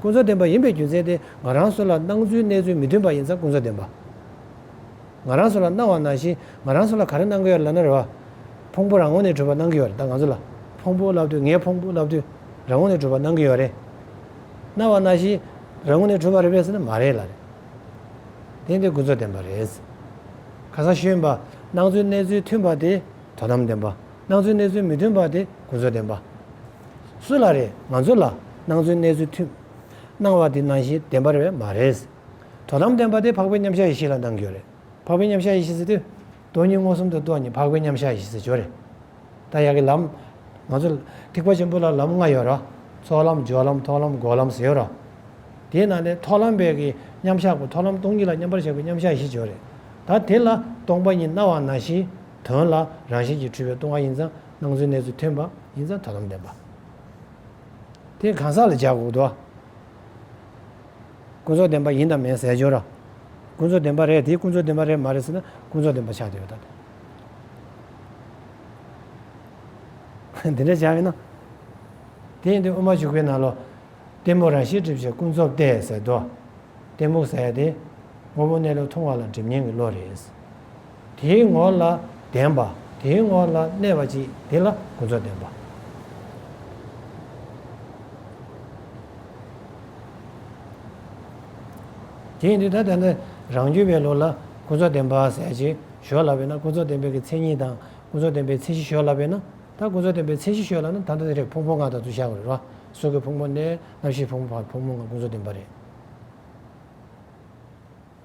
ཀུན་རྫོབ་བདེན་པ་ཡིན་པའི་རྒྱུ་མཚན་དེ་ང་རང་སུ་ལ་སྣང་ཚུལ་གནས་ཚུལ་མི་མཐུན་པ་ཡིན་ཙང་ཀུན་རྫོབ་བདེན་པ་ང་རང་སུ་ལ་སྣང་བ་ནང་བཞིན་ང་རང་སུ་ལ་ག་རེ་སྣང་གི་ཡོད་རེད་ལབ་ན་རེ་བ། ཕུང་པོ་རང་ངོ་ནས་གྲུབ་པ་སྣང་གི་ཡོད་རེད་ད་ང་ཚོ་ལ་ཕུང་པོ་ལབ་དུས་ངའི་ཕུང་པོ་ལབ་དུས་རང་ངོ་ནས་གྲུབ་པ་སྣང་གི་ཡོད་རེད། སྣང་བ་ནང་བཞིན་རང་ངོ་ནས་གྲུབ་པ་རེད་པས་ཟེར་ན་མ་རེད་ལ་རེད། བདེན་དེ་ཀུན་རྫོབ་བདེན་པ་རེད། ཁ་སང་ཤོད་ཡིན་པ་སྣང་ཚུལ་གནས་ཚུལ་མཐུན་པ་དེ་དོ་དམ་བདེན་པ། སྣང་ཚུལ་གནས་ཚུལ་མི་མཐུན་པ་དེ་གོ་འཛོལ་བདེན་པ། སུ་ལ་རེད་ང་ཚོ་ལ་སྣང་ཚུལ་གནས་ཚུལ་མཐུན། སྣང་བ་དེ་སྣང་ཤེས་བདེན་པ་རེད་བས་མ་རེད། དོ་དམ་བདེན་པ་དེ་འཕགས་པའི་མཉམ་གཞག་ཡེ་ཤེས་ལ་སྣང་རྒྱུ་རེད། འཕགས་པའི་མཉམ་གཞག་ཡེ་ཤེས་ཟེར་དུས། སྟོང་ཉིད་མངོན་སུམ་དུ་རྟོགས་ཉིད་འཕགས་པའི་མཉམ་གཞག་ཡེ་ཤེས་ཟེར་ཇོ་རེད། ད་ཡག་གི་ལམ། ང་ཚོ། ཐེག་པ་ཆེན་པོ་ལ་ལམ་ལྔ་ཡོད་ར། ཚོགས་ལམ་སྦྱོར་ལམ་ཐོགས་ལམ་འགོག་ལམ་ཟེར་ཡོད་ར། དེའི་ནང་ནས་ཐོགས་ལམ་བས་ཀྱི་མཉམ་གཞག་གོ་ཐོགས་ལམ་སྟོང་ཉིད་ལ་མཉམ་པར་གཞག་པའི་མཉམ་གཞག་ཡེ་ཤེས་ཇོ་རེད། ད་དེ་ལ་སྟོང་པ་ཉིད་སྣང་བ་སྣང་ཤེས། དོན་ལ་རང་བཞིན་གྱིས་འཁྲུལ་བའི་ལྟུང་བ་ཡིན་ཙང་སྣང་ཚུལ་གནས་ཚུལ་ཐོན་པ་ཡིན་ཙང་ཐོས་ལམ་བདེན་པ་དེ་གང་ཟག་ལ་སྦྱར་དགོས་དོ། ཀུན་རྫོབ་བདེན་པ་ཡིན་དང་མིན་ཟེར་སྦྱོར། ཀུན་རྫོབ་བདེན་པ་རེད་དེ་ཀུན་རྫོབ་བདེན་པ་རེད་མ་རེད་ཟེར་ན་ཀུན་རྫོབ་བདེན་པ་ཆགས་ཀྱི་ཡོད་དཱ། དེ་འདྲ་བྱ་ཡོད་ན། དེ་ཡིན་དུས་དབུ་མ་འཇུག་པའི་ནང་ལོ། གཏི་མུག་རང་ཤེས་སྒྲིབ་བྱེད་ཀུན་རྫོབ་སྟེ་ཟེར་དོ། གཏི་མུག་ཟེར་དེ། དངོས་པོ་གནས་ལུགས་མཐོང་བ་ལ་སྒྲིབ་གཉེན་གྱི་བློ་རེད། དེའི་ངོགས་ལ་བདེན་པ། དེའི་ངོགས་ལ་གནས་པ་ཅིག་དེ་ལ་ཀུན་རྫོབ་བདེན་པ། དེ་ཡིན་དུས་ད་ལྟ་འདི་རང་རྒྱུད་པའི་ལུགས་ལ་ཀུན་རྫོབ་བདེན་པ་ཟེར་གྱི་ཞོར་ལ་བས་ན་ཀུན་རྫོབ་བདེན་པའི་མཚན་ཉིད་དང་ཀུན་རྫོབ་བདེན་པའི་མཚན་གཞི་ཞོར་ལ་བས་ན་ད་ཀུན་རྫོབ་བདེན་པའི་མཚན་གཞི་ཞོར་ལ་ན་ད་ལྟ་འདི་རེག་ཕུང་པོ་ལྔ་དང་དུ་ཞག་རེ་རོ་སོ་གའི་ཕུང་པོ་ནས་རྣམ་ཤེས་ཕུང་པོ་བར་ཕུང་པོ་ལྔ་ཀུན་རྫོབ་བདེན་པ་རེད།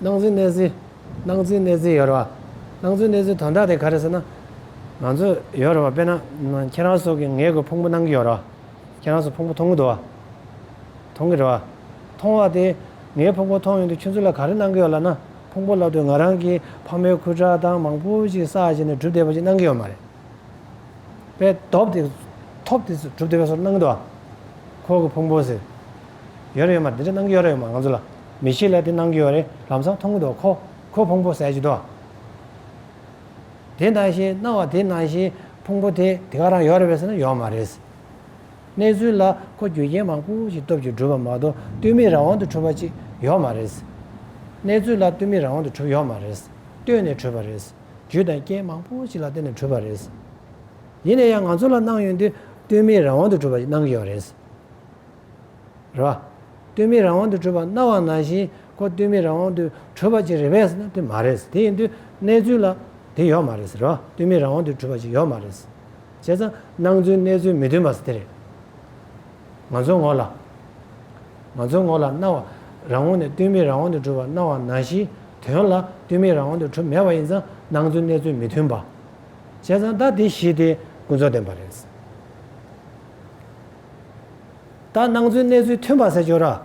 སྣང་ཚུལ་གནས་ཚུལ། སྣང་ཚུལ་གནས་ཚུལ་ཡོད་རེད་བ། སྣང་ཚུལ་གནས་ཚུལ་དོན་དག་དེ་ག་རེད་ཟེར་ན། ང་ཚོས་ཡོད་རེད་བ་དཔེར་ན། ཁྱེད་རང་སོགས་ཀྱིས་ངའི་སྒོས་ཕུང་པོ་སྣང་གི་ཡོད་རེད་བ། ཁྱེད་རང་སོགས་ཕུང་པོ་མཐོང་གི་འདུག་བ། མཐོང་གི་རེད་བ། མཐོང་བ་དེས་ངའི་ཕུང་པོ་མཐོང་ཡོང་དུས་ཁྱོད་ཚོ་ལ་ག་རེ་སྣང་གི་ཡོད་ལབ་ན། ཕུང་པོ་ལབ་དུས་ང་རང་གིས་ཕ་མའི་ཁུ་ཁྲག་དང་མང་པོ་ཞིག་བསགས་བྱས་ནས་གྲུབ་བསྡད་པ་ཞིག་སྣང་གི་ཡོད་མ་རེད་པས། ཐོབ་དེ་ཐོབ་དེ་གྲུབ་བསྡད་པ་སོགས་སྣང་གི་འདུག་བ། ཁོག་གི་ཕུང་པོ་ཟེར། ཡོད་རེད་ཡོད་མ་རེད་འདི་འདྲ་སྣང་གི་ཡོད་རེད་ཡོད་མ་རེད་ང་ཚོ་ལ། མི་ཤེས་ལ་དེ་གནང་གི་ཡོད་རེད་ལམ་སང་མཐོང་གི་འདུག་ཁོ་ཁོའི་ཕུང་པོ་ཟས་ཀྱི་འདུག་དེ་ནང་བཞིན་གནང་བ་དེ་ནང་བཞིན་ཕུང་པོ་དེ་དེ་ག་རང་ཡོད་རེད་བས་ཟེར་ན་ཡོད་མ་རེད། གནས་ཚུལ་ལ་ཁོ་རྒྱུ་རྐྱེན་མང་པོ་ཞིག་སྟོབས་ཀྱིས་བསྒྲུབས་པ་མ་གཏོགས་བསྟུན་མེད་རང་དབང་དུ་གྲུབ་པ་ཅིག་ཡོད་མ་རེད། གནས་ཚུལ་ལ་བསྟུན་མེད་རང་དབང་དུ་གྲུབ་ཡོད་མ་རེད་བསྟུན་ནས་གྲུབ་པ་རེད། རྒྱུ་དང་རྐྱེན་མང་པོ་ཞིག་ལ་བརྟེན་ནས་གྲུབ་པ་རེད། ཡིན་ན་ཡང་ང་ཚོ་ལ་གནང་ཡོད་དུས་བསྟུན་མེད་རང་དབང་དུ་གྲུབ་པ་ཞིག་གནང་གི་ཡོད་རེད། ར། ལྟོས་མེད་རང་དབང་དུ་གྲོལ་བ་རྣ་བ་ན་བཞིན་ཁོ་ལྟོས་མེད་རང་དབང་དུ་གྲོལ་བ་ཅིག་རེད་བས་ན་དེ་མ་རེད། དེ་ཡིན་དུས་གནས་ཚུལ་ལ་དེ་ཡོད་མ་རེད། ར། ལྟོས་མེད་རང་དབང་དུ་གྲོལ་བ་ཅིག་ཡོད་མ་རེད། བྱས་ཙང་སྣང་ཚུལ་གནས་ཚུལ་མི་མཐུན་པ་དེ་རེད། ང་ཚོའི་ངོ་ལ། ང་ཚོའི་ངོ་ལ་རྣ་བ་རང་དབང་ནས་ལྟོས་མེད་རང་དབང་དུ་གྲོལ་བ་རྣ་བ་ན་བཞིན་དོན་ལ་ལྟོས་མེད་རང་དབང་དུ་གྲོལ་མེད་པ་ཡིན་ཙང་སྣང་ཚུལ་གནས་ཚུལ་མི་མཐུན་པ། བྱས་ཙང་ད་དེ་གཞི་དེ་ཀུན་རྫོབ་བདེན་པ་རེད། ད་སྣང་ཚུལ་གནས་ཚུལ་མཐུན་པ་གསལ་བྱོས།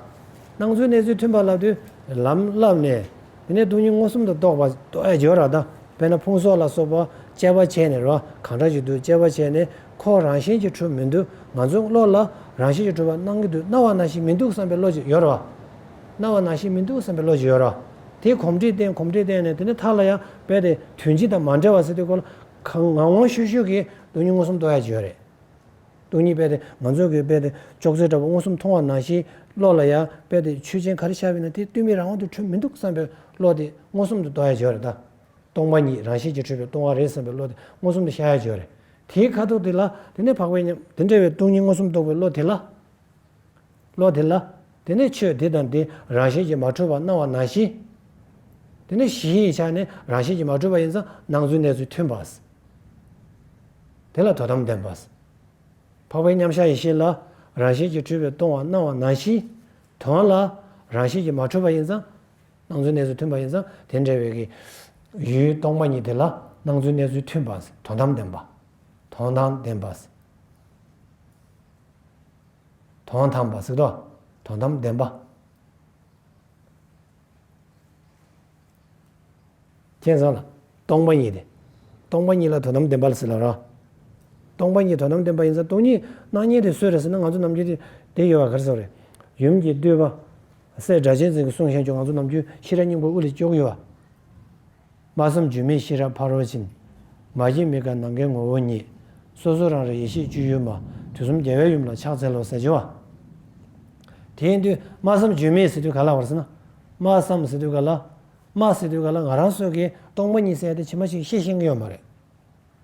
སྣང་ཚུལ་གནས་ཚུལ་མཐུན་པ་ལབ་དུས་ལམ་བསླབ་ནས། དེ་ནས་སྡུག་སྙིང་མངོན་སུམ་དུ་རྟོགས་པ་གསལ་བྱོས། དཔེར་ན་ཕུང་སོགས་ལ་སོགས་པ་དཔྱད་པ་བྱས་ནས་རོ་གང་འདྲ་ཞིག་འདུག་དཔྱད་པ་བྱས་ནས་ཁོག་རང་བཞིན་གྱིས་འཁྲུལ་མི་འདུག་ང་ཚོའི་བློ་ལ་རང་བཞིན་གྱིས་འཁྲུལ་བར་སྣང་གི་འདུག་སྣང་བ་ན་ཞིག་མི་འདུག་བསམ་པའི་བློ་ཅིག་ཡོད་རོ། སྣང་བ་ན་ཞིག་མི་འདུག་བསམ་པའི་བློ་ཅིག་ཡོད་རོ། དེས་གོམས་འདྲིས་བསྟན་གོམས་འདྲིས་བསྟན་ནས་དེ་ནས་མཐར་ལ་ཡང་འབད་དེ་དོན་སྤྱི་དང་མ་འབྲེལ་བ་སེལ་དུས་གོ་ལ་ངང་ངང་ཤུགས་ཤུགས་ཀྱིས་སྡུག་སྙིང་མངོན་སུམ་རྟོགས་ཡ་གྱི་ཡོད་རེད། སྟོང་ཉིད་དཔལ་ཏེ་ང་ཚོའི་གི་དཔལ་ཏེ་ཅོག་ཙེ་འདྲ་བ་མངོན་སུམ་མཐོང་བ་ནང་བཞིན་བློ་ལ་ཡང་དཔལ་ཏེ་ཆོས་ཅན་ག་རེ་ཤར་བས་ན་དེ་ལྟོས་མེད་རང་དབང་དུ་གྲོལ་མི་འདུག་བསམ་པའི་བློ་དེ་མངོན་སུམ་དུ་རྟོགས་ཡ་འཇོག་རེད་ད། སྟོང་པ་ཉིད་རང་བཞིན་གྱིས་གྲོལ་བའི་སྟོང་བ་རེད་བསམ་པའི་བློ་དེ་མངོན་སུམ་དུ་ཤར་ཡ་འཇོག་རེད། དེའི་ཁ་དོག་དེ་ལ་དེ་ནས་འཕགས་པའི་ཉམས། དེ་འདྲ་བའི་སྟོང་ཉིད་མངོན་སུམ་རྟོགས་པའི་བློ་དེ་ལ། བློ་དེ་ལ། དེ་ནས་ཆོས་དེ་དང་དེ་རང་བཞིན་གྱིས་མ་གྲོལ་བར་སྣང་བ་ནང་བཞིན། དེ་ནས་གཞི་ཡི་ཆ་ནས་རང་བཞིན་གྱིས་མ་གྲོལ་བ་ཡིན་ཙང་སྣང་ཚུལ་གནས་ཚུལ་མཐུན་པ། དེ་ལ་དོ་དམ་ལྡན་པ། འཕགས་པའི་མཉམ་གཞག་ཡེ་ཤེས་ལ། རང་བཞིན་གྱིས་འཁྲུལ་པའི་སྟོང་བ་སྣང་བ་ནང་བཞིན། དོན་ལ། རང་བཞིན་གྱིས་མ་གྲོལ་བ་ཡིན་ཙང། སྣང་ཚུལ་གནས་ཚུལ་མཐུན་པ་ཡིན་ཙང་དེ་འབྲེལ་བའི། ཡུལ་སྟོང་པ་ཉིད་དེ་ལ་སྣང་ཚུལ་གནས་ཚུལ་མཐུན་པ། དོ་དམ་ལྡན་པ། དོན་དང་ལྡན་པ། དོན་དམ་པར་གཟིགས་རོགས། དོན་དམ་བདེན་པ། མཁྱེན་བཟང་ལ། སྟོང་པ་ཉིད་དེ། སྟོང་པ་ཉིད་ལ་དོན་དམ་བདེན་པ་ལ་གཟིགས་ལ་རོགས། སྟོང་པ་ཉིད་དོན་དམ་བདེན་པ་ཡིན་ཙང་སྟོང་ཉིད་སྣང་བརྙན་དེ་སུས་རེད་ཟེར་ན་ང་ཚོ་ནམ་རྒྱུན་དེ་ཡོད་པ་གར་སོང་རེད། ཡུམ་གྱིས་བསྟོད་པ། སྲས་སྒྲ་གཅན་འཛིན་གྱིས་གསུངས་ཤེས་བྱུང་ང་ཚོ་ནམ་རྒྱུན་ཤེས་རབ་སྙིང་པོ་དབུ་ལས་བཅུག་ཡོད། སྨྲ་བསམ་བརྗོད་མེད་ཤེས་རབ་ཕ་རོལ་ཕྱིན། མ་སྐྱེས་མི་དགའ་ནམ་མཁའི་ངོ་བོ་ཉིད། སོ་སོ་རང་རིག་ཡེ་ཤེས་སྤྱོད་ཡུལ་མ། དུས་གསུམ་རྒྱལ་བའི་ཡུམ་ལ་ཕྱག་འཚལ་ལོ་ཟེར་བྱ་བ། དེ་ཡིན་དུས་སྨྲ་བསམ་བརྗོད་མེད་ཟེར་དུས་ག་ལ་བར་སེ་ན། སྨྲ་བསམ་ཟེར་དུས་ག་ལ། སྨྲ་ཟེར་དུས་ག་ལ་ང་རང་སོ་གེའི་སྟོང་པ་ཉིད་གསལ་ཏེ་ཕྱི་མ་ཞིག་ཤེས་ཤེས་ཀྱི་ཡོད་མ་རེད།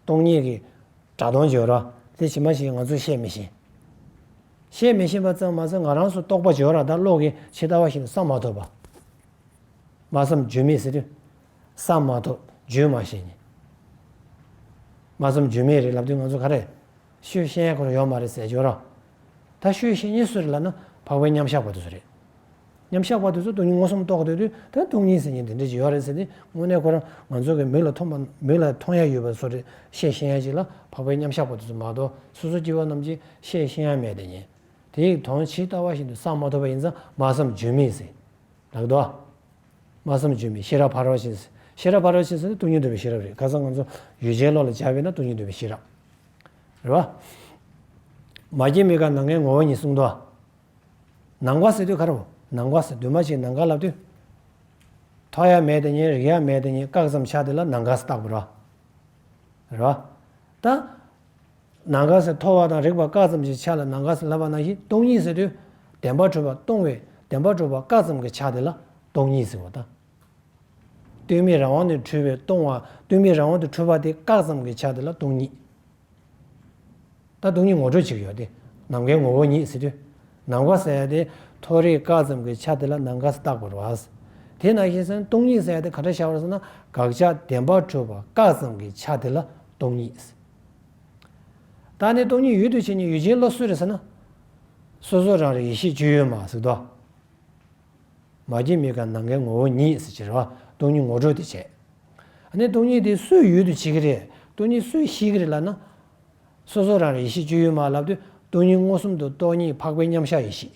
སྟོང་ཉིད་ཀྱི། གྲགས་སྟོང་སྦྱོར་ར། དེ་ཕྱི་མ་ཞིག་ང་ཚོས་ཤེས་མི་ཤེས། ཤེས་མི་ཤེས་པ་ཙམ་མ་ཟད་ང་རང་སོ་རྟོག་པ་སྦྱོར་ར་ད་བློ་གི་ཇི་ལྟ་བ་བཞིན་བསམ་མ་ཐུབ་པ། སྨྲ་བསམ་བརྗོད་མེད་ཟེར། བསམ་མ་ཐོབ་བརྗོད་མ་ཤེས་ཉེས། སྨྲ་བསམ་བརྗོད་མེད་རེད་ལབ་དུས་ང་ཚོ་ག་རེད། ཤོད་བཤད་ཁོ་ར་ཡོག་མ་རེད་ཟེར་འཇོག་ར། ད་ཤོད་བཤད་ཉེས་སུ་རེད་ལབ་ན་འཕགས་པའི་མཉམ་བཞག་པ་དུ་སུ་རེད། མཉམ་བཞག་པ་དུ་ཚོ་སྟོང་ཉིད་མངོན་སུམ་རྟོགས་འདོད་དུས་ད་སྟོང་ཉིད་ཟེར་ཉེས་འདི་འདྲ་ཅིག་ཡོག་རེད་ཟེར་ཏེ་དངོས་གནས་ཁོ་ར་ང་ཚོ་གི་མིག་ལ་མཐོང་མིག་ལ་མཐོང་ཡ་ཡོད་པ་སུ་རེད་ཤེས་ཤེས་ཡ་ཅིག་ལ་འཕགས་པའི་མཉམ་བཞག་པ་དུ་ཚོ་མ་གཏོགས་སོ་སོ་སྐྱེ་བོ་རྣམས་ཀྱིས་ཤེས་ཤེས་ཡ་མེད་དེ་ཉེས་དེ་ཡིག་དོང་ཇི་ལྟ་བ་བཞིན་དུ་བསམ་མ་ཐོབ་པ་ཡིན་ཙང་སྨྲ་བསམ་བརྗོད་མེད་ཟེར། ལགས་འདུག། སྨྲ་བསམ་བརྗོད་མེད་ཤེས་རབ་ཕ་རོལ་ཕྱིན། ཤེས་རབ་ཕ་རོལ་ཕྱིན་ཟེར་ནི་སྟོང་ཉིད་འདོད་པའི་ཤེས་རབ་རེད་ག་ཚང་ང་ཚོ་ཡུལ་ཅན་བློ་ལ་འཇགས་པས་ན་སྟོང་ཉིད་འདོད་པའི་ཤེས་རབ་རེད་བ། མ་སྐྱེས་མི་དགའ་ནང་ངའི་ངོ་བོ་ཉིད་གསུངས་འདུག། ནང་བ་ཟེར་དུས་ག་རེ་བ། ནང་བ་ཟེར་དུས་མ་གཅིག་ནང་དགའ་ལབ་དུས། ཐོག་ཡ་མེད་དེ་ཉིད་རིག་ཡ་མེད་དེ་ཉིད་བཀག་ཙམ་ཆགས་དེ་ལ་ནང་དགའ་ས་རྟག་པ་རེད་བ། ད། ནང་ག་ཟེར་མཐོ་བ་དང་རེག་པ་བཀག་ཙམ་གྱི་ཆ་ལ་ནང་ག་ཟེར་སླ་བ་ནང་བཞིན་སྟོང་ཉིད་ཟེར་དུས། བདེན་པ་འཕྲོས་པ་སྟོང་བས་བདེན་པ་འཕྲོས་པ་བཀག་ཙམ་གྱི་ཆ་དེ་ལ་སྟོང་ཉིད་ཟེར་བ་དང། སྟོན་མེད་རང་དབང་དུ་འཕྲོས་པའི་སྟོང་བ་སྟོན་མེད་རང་དབང་དུ་འཕྲོས་པ་དེ་བཀག་ཙམ་གྱི་ཆ་དེ་ལ་སྟོང་ཉིད། ད་སྟོང་ཉིད་ངོ་སྤྲོད་བྱེད་ཀྱི་ཡོད་དེ། ནམ་མཁའི་ངོ་བོ་ཉིད་ཟེར་དུས། ནམ་མཁའ་ཟེར་དེ་མཐོ་རིས་བཀག་ཙམ་གྱི་ཆ་དེ་ལ་ནམ་མཁའ་བཏགས་པར་བ། དེས་ན་ཤེས་བྱ་སྟོང་ཉིད་ཟེར་དེ་ག་འདྲ་བྱ་བར་སོང་ན་དགག་བྱ་བདེན་པ་འཕྲོས་པ་བཀག་ཙམ་གྱི་ཆ་དེ་ལ་སྟོང་ཉིད། བདག་ནི་སྟོང་ཉིད་ཡུལ་དུ་བྱས་ནས་ཡུལ་ཅན་བློ་གསོས་རེད་ཟེར་ན། སོ་སོ་རང་རེ་ཡེ་ཤེས་སྤྱོད་ཡུལ་མ་ཟིག་དོ། མ་སྐྱེས་མི་ཁ་ནམ་མཁའི་ངོ་བོ་ཉིད་ཟེར་ཕྱིར། སྟོང་ཉིད་ངོ་སྤྲོད་དེ་བྱས། ནི་སྟོང་ཉིད་དེ་སུའི་ཡུལ་དུ་བྱེད་ཀྱི་རེད་སྟོང་ཉིད་སུས་ཤེས་ཀྱི་རེད་ལབ་ན། སོ་སོ་རང་རེ་ཡེ་ཤེས་སྤྱོད་ཡུལ་མ་ལབ་དུས་སྟོང་ཉིད་མངོན་སུམ་དུ་རྟོགས་ཉིད་འཕགས་པའི་མཉམ་གཞག་ཡེ་ཤེས།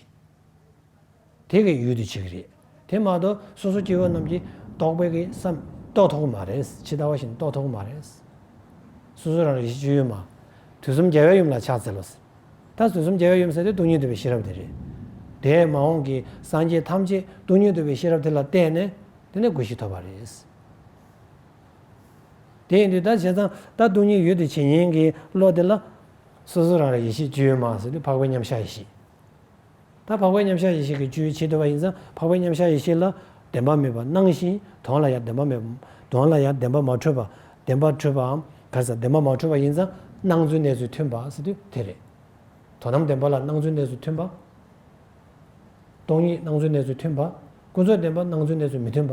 དེ་གའི་ཡུལ་དུ་བྱེད་ཀྱི་རེད། དེ་མ་གཏོགས་སོ་སོ་སྐྱེ་བོ་རྣམས་ཀྱིས་རྟོགས་པའི་གི་སམ། རྟོགས་ཐོག་གི་མ་རེད། ཇི་ལྟ་བ་བཞིན་རྟོགས་ཐོག་གི་མ་རེད། སོ་སོ་རང་རིག་གཞི་བཅུ་ཡོད་མ། དུས་གསུམ་རྒྱལ་བའི་ཡུམ་ལ་ཕྱག་འཚལ་ལོ། ཟེར། ད་དུས་གསུམ་རྒྱལ་བའི་ཡུམ་ཟེར་དེ་སྟོང་ཉིད་འདུས་པའི་ཤེས་རབ་དེ་རེད། དེས་མ་འོངས་ཀྱི་སངས་རྒྱས་ཐམས་ཅད་སྟོང་ཉིད་འདུས་པའི་ཤེས་རབ་དེ་ལ་བརྟེན་ནས་དེ་ནས་སྒོ་ཞིག་ཐོབ་པ་རེད། དེ་ཡིན་དུས་ད་བྱས་ཙང་ད་སྟོང་ཉིད་ཡོད་དུས་བྱེད་ཉན་གྱི་བློ་དེ་ལ། སོ་སོ་རང་རིག་ཡེ་ཤེས་བཅུ་ཡོད་མ་ཟེར་དེ་འཕགས་པའི་མཉམ་གཞག་ཡེ་ཤེས། ད་འཕགས་པའི་མཉམ་གཞག་ཡེ་ཤེས་ཀྱི་བཅུའི་ཕྱིར་འདོད་པ་ཡིན་ཙང་འཕགས་པའི་མཉམ་གཞག་ཡེ་ཤེས་ལ་བདེན་པ་མེད་པར་སྣང་ཞིང་དོན་ལ་ཡང་བདེན་པ་མེད། དོན་ལ་ཡང་བདེན་པ་མ་འཕྲོད་པ། བདེན་པ་འཕྲོད་པའམ་གར་ས་བདེན་པ་མ་འཕྲོད་པ་ཡིན་ཙང་སྣང་ཚུལ་གནས་ཚུལ་མཐུན་པ་ཟེར་དུས་དེ་རེད། དོན་དམ་བདེན་པ་ལ་སྣང་ཚུལ་གནས་ཚུལ་མཐུན་པ། སྟོང་ཉིད་སྣང་ཚུལ་གནས་ཚུལ་མཐུན་པ། ཀུན་རྫོབ་བདེན་པ་སྣང་ཚུལ་གནས་ཚུལ་མི་མཐུན་པ།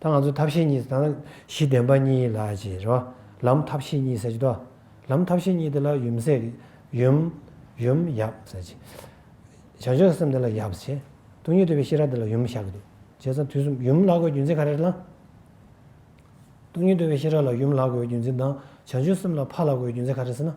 ད་ང་ཚོ་ཐབས་ཤེས་གཉིས་དང་གཞི་བདེན་པ་གཉིས་ལ་བྱེད་རོ། ལམ་ཐབས་ཤེས་གཉིས་ཟེར་གྱི་དོ། ལམ་ཐབས་ཤེས་གཉིས་དེ་ལ་ཡུམ་སྲས། ཡུམ། ཡུམ། ཡབ། ཟེར་གྱི། བྱང་ཆུབ་སེམས་དེ་ལ་ཡབ་བྱེད། སྟོང་ཉིད་འདུས་པའི་ཤེས་རབ་དེ་ལ་ཡུམ་བཞག་གི་འདུག་བྱས་ཙང་དུས་གསུམ་ཡུམ་ལག་དགོས་རྒྱུ་མཚན་ག་རེ་ལ། སྟོང་ཉིད་འདུས་པའི་ཤེས་རབ་ལ་ཡུམ་ལག་དགོས་རྒྱུ་མཚན་དང་བྱང་ཆུབ་སེམས་ལ་ཕ་ལག་དགོས་རྒྱུ་མཚན་ག་རེ་ཟེར་ན།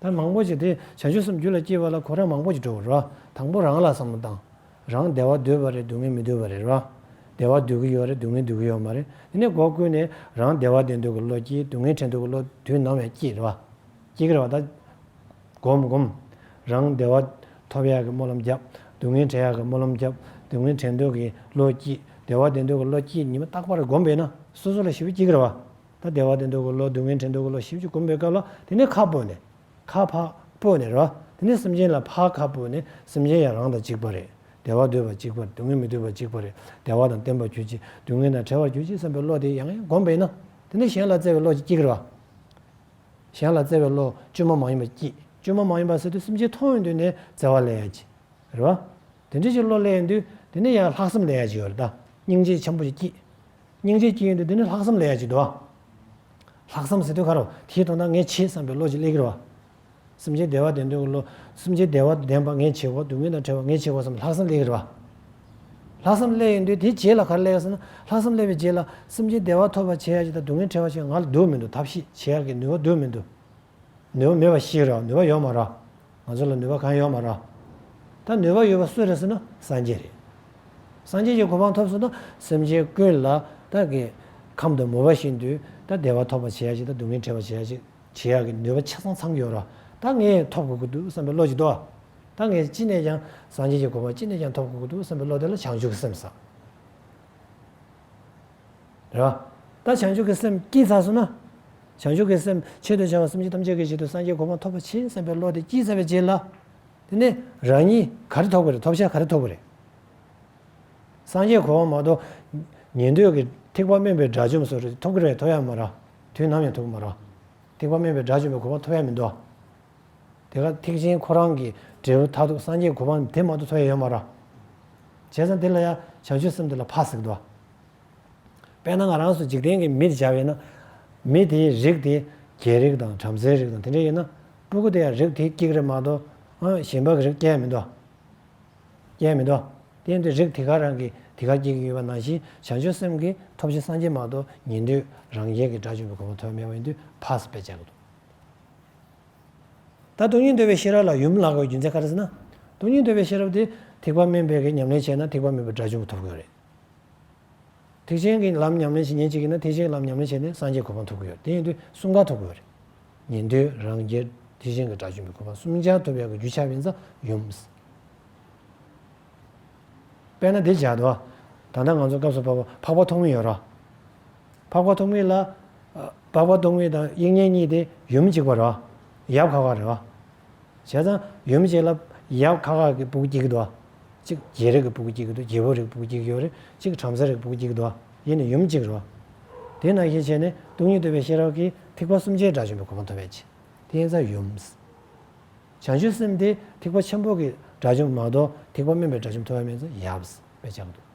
ལྟར་མང་པོ་ཞིག་དེ་བྱང་ཆུབ་སེམས་རྒྱུད་ལ་སྐྱེས་པ་ལ་གོ་རེ་མང་པོ་ཞིག་འགྲོ་བ་རེད་བ། དང་པོ་རང་ལ་བསམ་བློ་བཏང། རང་བདེ་བ་འདོད་པ་རེད་སྡུག་བསྔལ་མི་འདོད་པ་རེད་བ། བདེ་བ་འདོད་ཀྱི་ཡོད་རེད་སྡུག་བསྔལ་འདོད་ཀྱི་ཡོད་མ་རེད་དེ་ནས་སྒོ་ཀུན་ནས་རང་བདེ་བ་བདེ་འདོད་ཀྱི་བློ་སྐྱེ་སྡུག་བསྔལ་ཕྲན་འདོད་ཀྱི་བློ་དུས་ནམ་ཡང་སྐྱེ་རེད་བ། སྐྱེ་གི་རེད་བ་ད། སྒོམ་སྒོམ། རང་བདེ་བ་ཐོབ་ཡག་གི་སྨོན་ལམ་བརྒྱབ། སྡུག་བསྔལ་བྲལ་ཡག་གི་སྨོན་ལམ་བརྒྱབ། སྡུག་བསྔལ་ཕྲན་འདོད་ཀྱི་བློ་སྐྱེ། བདེ་བ་བདེ་འདོད་ཀྱི་བློ་སྐྱེ་ཉི་མ་རྟག་པར་སྒོམ་པས་ན་སོ་སོ་ལ་ཞི་བ་སྐྱེ་གི་རེད་བ། ད་བདེ་བ་དེ་འདུག་གི་ལོ་སྡུག་བསྔལ་ཕྲན་འདུག་གི་ལོ་བཞི་བཅུ་བསྐུམ་པའི་སྐབས་ལ་དེ་ནས་ཁ་སྤོས་ནས། ཁ་ཕག་སྤོས་ནས་ར། དེ་ནས་སེམས་ཅན་ལ་ཕག་ཁ་སྤོས་ནས་སེམས་ཅན་ཡང་རང་དང་གཅིག་པ་རེད། བདེ་བ་འདོད་པ་གཅིག་པར་སྡུག་བསྔལ་མི་འདོད་པ་གཅིག་པ་རེད། བདེ་བ་དང་བརྟེན་པར་གྱུར་ཅིག་སྡུག་བསྔལ་དང་བྲལ་བར་གྱུར་ཅིག་བསམ་པའི་བློ་དེ་ཡང་ཡང་བསྒོམས་པས་ན། དེ་ནས་གཞན་ལ་བརྩེ་བའི་བློ་གཅིག་གི་ར། གཞན་ལ་བརྩེ་བའི་བློ་བཅོས་མ་མ་ཡིན་པ་སྐྱེས། བཅོས་མ་མ་ཡིན་པ་ཟེར་དུས་སེམས་ཅན་མཐོང་བའི་མདུན་ནས་བརྩེ་བ་སླེ་ཡ་གྱི། རེད་བ། དེ་འདྲ་གྱི་བློ་སླེ་ཡིན་དུས་དེ་ནས་ཡང་ལྷག་བསམ་སླེ་ཡ་གྱི་ཡོད་རེད་ད། སྙིང་རྗེ་ཆེན་པོ་གཅིག་སྐྱེས། སྙིང་རྗེའི་དཀྱིལ་ཡུལ་འདི་འདི་ནི་ལྷག་བསམ་ལས་ཡ་གཅིག་འདུ་བ། ལྷག་བསམ་ཟེར་དུས་ཁ་རོག་གེར་དོན་དག་ངས་བྱེད་བསམ་པའི་བློ་གཅིག་ལེགས་གྱུར་བ། སེམས་ཅན་བདེ་བ་བདེན་དོན་གྱི་བློ། སེམས་ཅན་བདེ་བ་བདེན་པ་ངས་བྱེད་གོ་སྡུག་བསྔལ་དང་བྲལ་བ་ངས་བྱེད་གོ་བསམ་པའི་ལྷག་བསམ་ལེགས་གྱུར་བ། ལྷག་བསམ་ལེགས་ཡིན་དུས་དེའི་རྗེས་ལ་གར་ལེགས་ཟེར་ན་ལྷག་བསམ་ལེགས་པའི་རྗེས་ལ་སེམས་ཅན་བདེ་བ་ཐོབ་པར་བྱེད་ཡ་གཅིག་དང་སྡུག་བསྔལ་བྲལ་བ་གཅིག་ང་ལ་འདུག་མི་འདུག་ཐབས་ཤེས་བྱེད་ཡ་གི་ནུས་བ་འདུག་མི་འདུག། ནུས་པ་མེད་པ་ཞིག་རག་ནུས་པ་ཡོད་མ་རག། ང་ཚོ་ལ་ནུས་པ་གང་ཡོད་མ་རག། ད་ནུས་པ་ཡོད་པ་སུ་རེད་ཟེར་ན་སངས་རྒྱས་རེད། སངས་རྒྱས་ཀྱི་གོ་འཕང་ཐོབ་ཟེར་ན་སེམས་ཅན་ཀུན་ལ་ད་གི་ཁམས་དུ་མུར་བ་ཞིག་འདུས་ད་བདེ་བ་ཐོབ་པར་བྱེད་ཡག་ཅིག་ད་སྡུག་བསྔལ་བྲལ་བར་བྱེད་ཡག་ཅིག་བྱེད་ཡག་གི་ནུས་པ་ཆ་ཚང་ཚང་ཡོད་རག་ད་ངས་ཐོབ་དགོས་ཀྱི་འདུག་བསམ་པའི་བློ་ཅིག་འདུག་ད་ངས་ཅི་ནས་ཀྱང་སངས་རྒྱས་ཀྱི་གོ་འཕང་ཅི་ནས་ཀྱང་ཐོབ་དགོས་ཀྱི་འདུག་བསམ་པའི་བློ་དེ་ལ་བྱང་ཆུབ་ཀྱི་སེམས་བསགས། ར། ད་བྱང་ཆུབ་ཀྱི་སེམས་སྐྱེས་ཚར་སོང་ན། བྱང་ཆུབ་ཀྱི་སེམས་ཆེད་དུ་བྱ་བ་སེམས་ཅན་ཐམས་ཅད་ཀྱི་ཆེད་དུ་སངས་རྒྱས་གོ་འཕང་ཐོབ་པ་བྱིན་བསམ་པའི་བློ་དེ་སྐྱེས་ཚར་བའི་རྗེས་ལ། དེ་ནས་རང་ཉིད་ག་རེ་ཐོབ་གི་རེད་ཐོབ་བྱ་ག་རེ་ཐོབ་གི་རེད། སངས་རྒྱས་གོ་འཕང་མ་གཏོགས། ཉན་ཐོས་ཀྱི་ཐེག་པ་དམན་པའི་དགྲ་བཅོམ་སོགས་རེ་ཐོབ་གི་རེད་ཐོབ་ཡ་མ་ར། དུས་ནམ་ཡང་ཐོབ་གི་མ་ར། ཐེག་པ་དམན་པའི་དགྲ་བཅོམ་པའི་གོ་འཕང་ཐོབ་ཡ་མི་འདུག་ཨ། དེ་ལ་ཐེག་ཆེན་ཁོ་རང་གི་འབྲས་བུ་མཐར་ཐུག་སངས་རྒྱས་གོ་འཕང་དེ་མ་གཏོགས་ཐོབ་ཡས་ཡོད་མ་ར། བྱས་ཙང་དེ་ལ་ཡང་བྱང་ཆུབ་སེམས་དེ་ལ་ཕག་ཟིག་འདུ་བ། དཔེར་ན་ང་རང་སུ་འཇིག་རྟེན་གྱི་མིར་བྱ་བས་ན། མི་དེའི་རིགས་དེ་རྒྱལ་རིགས་དང་བྲམ་ཟེའི་རིགས་དང་དེ་འདྲས་ཡིན་ན་སྤྲུལ་སྐུ་དེ་ཡང་རིགས་དེའི་ཀྱིག་རེ་མ་གཏོགས་གཞན་པའི་རིགས་སྐྱེ་ཡས་མི་འདུ་བ། སྐྱེ་ཡས་མི་འདུ་བ། དེ་འདྲའི་རིགས་དེ་ག་རང་གི་དེ་ག་སྐྱེ་གི་ཡོད་པ་ནང་བཞིན་བྱང་ཆུབ་སེམས་ཀྱི་ཐོབ་བྱའི་སངས་རྒྱས་མ་གཏོགས་ཉིད་དུས་རང་རྒྱལ་གྱི་དགྲ་བཅོམ་པའི་གོ་འཕང་ཐོབ་ཡས་མེད་པ་ཡིན་དུས་ཕག་ཟིག་པས་བྱས་གོ། ད་དུང་སྙིང་འདོད་པའི་ཤེས་རབ་ལ་ཡུམ་ལགས་པའི་རྒྱུ་མཚན་ག་རེ་ཟེར་ན། དུང་སྙིང་འདོད་པའི་ཤེས་རབ་དེ་ཐེག་པ་མན་པའི་གི་ཉམས་ལེན་བྱས་ན་ཐེག་པ་མེད་པའི་དགྲ་བཅོམ་པ་ཐོབ་དགོས་རེད། ཐེག་ཆེན་གྱི་ལམ་ཉམས་ལེན་བྱེད་ཉིན་གཅིག་ཡིན་ན་ཐེག་ཆེན་གྱི་ལམ་ཉམས་ལེན་བྱས་ནས་སངས་རྒྱས་གོ་འཕང་ཐོབ་གི་ཡོད་དེ་ཡིན་དུས་གསུམ་ཀ་ཐོབ་དགོས་རེད། ཉན་ཐོས་རང་རྒྱལ་ཐེག་ཆེན་གྱི་དགྲ་བཅོམ་པའི་གོ་འཕང་གསུམ་ཆར་ཐོབ་པའི་གི་རྒྱུ་ཆ་བིན་ཙམ་ཡུམ། དཔེར་ན་དེ་བྱ་དོ། ད་ལྟ་ང་ཚོ་སྐབས་སུ་བབ་པ་འཕགས་པ་ཐོག་མེད་ཡོད་རོགས། འཕགས་པ་ཐོགས་མེད་ལ། འཕགས་པ་ཐོགས་མེད་དང་དབྱིག་གཉེན་གཉིས་དེ་ཡུམ་གཅིག་པ་རོ། ཡབ་ཁ་ཁ་རེད་བ། བྱས་ཙང་ཡུམ་གཅིག་ལ། ཡབ་ཁ་ཁ་གི་བུ་གུ་གཅིག་གི་འདུག་བ། གཅིག་རྗེ་རིགས་ཀྱི་བུ་གུ་གཅིག་གི་འདུག་རྗེ་བོ་རིགས་ཀྱི་བུ་གུ་གཅིག་གི་ཡོད་རེད། གཅིག་བྲམ་ཟེ་རིགས་ཀྱི་བུ་གུ་གཅིག་གི་འདུག་བ། ཡེ་ནས་ཡུམ་གཅིག་རེད་བ། དེས་ན་ཞེས་བྱས་ནས་སྟོང་ཉིད་བསྟོད་པའི་ཤེས་རབ་ཀྱིས་ཐེག་པ་གསུམ་ཆའི་སྒྲ་བྱིན་པའི་གོ་འཕང་ཐོབ་པའི་ཕྱིར། དེ་ཡན་ཙམ་ཡུམ། བྱང་ཆུབ་སེམས་དེ་ཐེག་པ་ཆེན་པོ་གི་སྒྲ་བྱིན་པ་མ་གཏོགས་ཐེག་པ་དམན་པའི་སྒྲ་བྱིན་པ་ཐོབ་ཡ་མེད་ཙང་ཡབ། པའི་ཕྱག་ཏུ།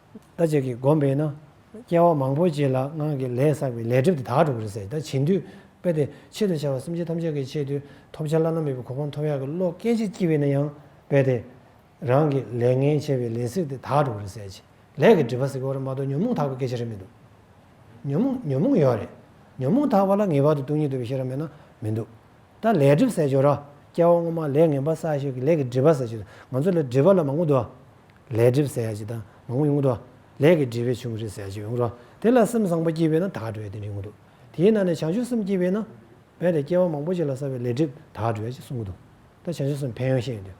ད་ཅིག་གིས་བསྒོམས་པས་ན་སྐྱེ་བ་མང་པོ་བྱས་ལ་སྔགས་ཀྱི་ལས་བསགས་པས་ལས་སྒྲིབ་དེ་དག་འགྲུབ་པར་ཟད་ད་བྱིན་དུས་པས་ཏེ་ཆེད་དུ་བྱ་བ་སེམས་ཅན་ཐམས་ཅད་ཀྱི་ཆེད་དུ་ཐོབ་བྱ་བླ་ན་མེད་པའི་གོ་འཕང་ཐོབ་ཡག་གི་བློ་སྐད་ཅིག་བསྐྱེད་པས་ན་ཡང་པས་ཏེ། རང་གི་ལས་ངན་བྱས་པས་ལས་བསྲེགས་དེ་དག་འགྲུབ་པར་ཟད། ལས་ཀྱི་སྒྲིབ་པ་བསྲེགས་པར་མ་གཏོགས་ཉོན་མོངས་དག་པའི་སྐད་ཆ་རེ་མི་འདུག། ཉོན་མོངས་ཉོན་མོངས་ཡོད་རེད། ཉོན་མོངས་དག་པ་ལ་ངེས་པར་དུ་སྟོང་ཉིད་འདུ་བའི་ཤེས་རབ་མེད་ན་མི་འདུག། ད་ལས་སྒྲིབ་བསྲེགས་ཆོག་ར་སྐྱེ་བ་སྔོན་མ་ལས་ངན་པ་བསགས་ཤིང་ལས་ཀྱི་སྒྲིབ་པ་བསྲེགས་ཆོག་ང་ཚོ་ལས་སྒྲིབ་པ་ལ་མང་པོ་འདུ་བ། ལས་སྒྲིབ་བསལ་བྱེད་དག་མང་པོ་ཡོང་གི་འདུག་ལས་ཀྱི་སྒྲིབ་པའི་ཆུང་ཚུལ་གསལ་བྱེད་ཡོང་གི་འདུག་དེ་ལ་སེམས་བཟང་པོ་སྐྱེས་པས་ན་དག་གྲོལ་བའི་གདིང་རིང་པོ་འདུག་དེའི་ནང་ནས་བྱང་ཆུབ་སེམས་སྐྱེས་པས་ན། རྦད་དེ་སྐྱེ་བ་མང་པོ་ཞིག་ལ་བསགས་པའི་ལས་སྒྲིབ་དག་གྲོལ་བྱེད་ཅེས་གསུངས་ཀྱི་འདུག་ད་བྱང་ཆུབ་སེམས་ཕན་ཡོན་བཤད་ཀྱི་འདུག་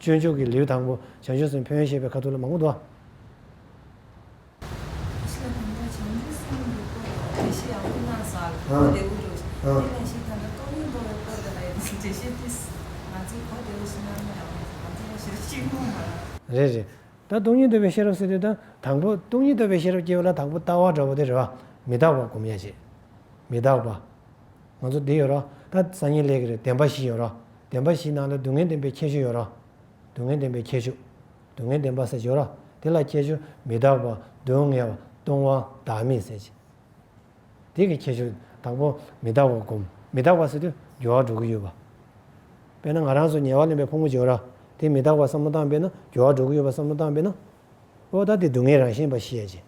སྤྱོད་འཇུག་གི་ལེའུ་དང་པོ་བྱང་ཆུབ་སེམས་ཕན་ཡོན་བཤད་པའི་ཁ་ཐུག་ལ་མང་པོ་འདུག། རེད་རེད། ད་སྟོང་ཉིད་འདོད་པའི་ཤེས་རབ་ཟེར་དུས་དང་དང་པོ་སྟོང་ཉིད་འདོད་པའི་ཤེས་རབ་སྐྱེ་བ་ལ་དང་པོ་རྟག་བ་འདྲ་བོ་དེ་རེད་བ། མི་རྟག་པ་གོམས་ཡ་བྱེད། མི་རྟག་པ། ང་ཚོ་འདི་ཡོད་རོགས། ད་སང་ཉིན་ལས་ཀྱི་རེད་བདེན་པ་བཞི་ཡོད་རོགས། བདེན་པ་བཞི་ནང་ལ་སྡུག་བསྔལ་བདེན་པའི་ཁྱད་ཆོས་ཡོད་རོགས། སྡུག་བསྔལ་བདེན་པའི་ཁྱད་ཆོས། སྡུག་བསྔལ་བདེན་པ་ཟེར་ཞོར། དེ་ལ་ཁྱད་ཆོས་མི་རྟག་པ་སྡུག་བསྔལ་བ་སྟོང་བ་བདག་མེད་ཟེར། དེ་གི་ཁྱད་ཆོས་དང་པོ་མི་རྟག་པ་བསྒོམ། མི་རྟག་པ་ཟེར་དུས་སྦྱོར་བ་འགྲོ་གི་ཡོད་པ། དཔེར་ན་ང་རང་ཚོ་ཉལ་བ་ལེན་པའི་ཕུང་པོ་སྦྱོར། དེ་མི་རྟག་པ་བསམ་བློ་བཏང་པས་ན་སྦྱོར་བ་འགྲོ་གི་ཡོད་པ་བསམ་བློ་བཏང་པས་ན། ཨོ་ད་དེ་སྡུག་བསྔལ་རང་བཞིན་པ་ཤེས་རྗེས།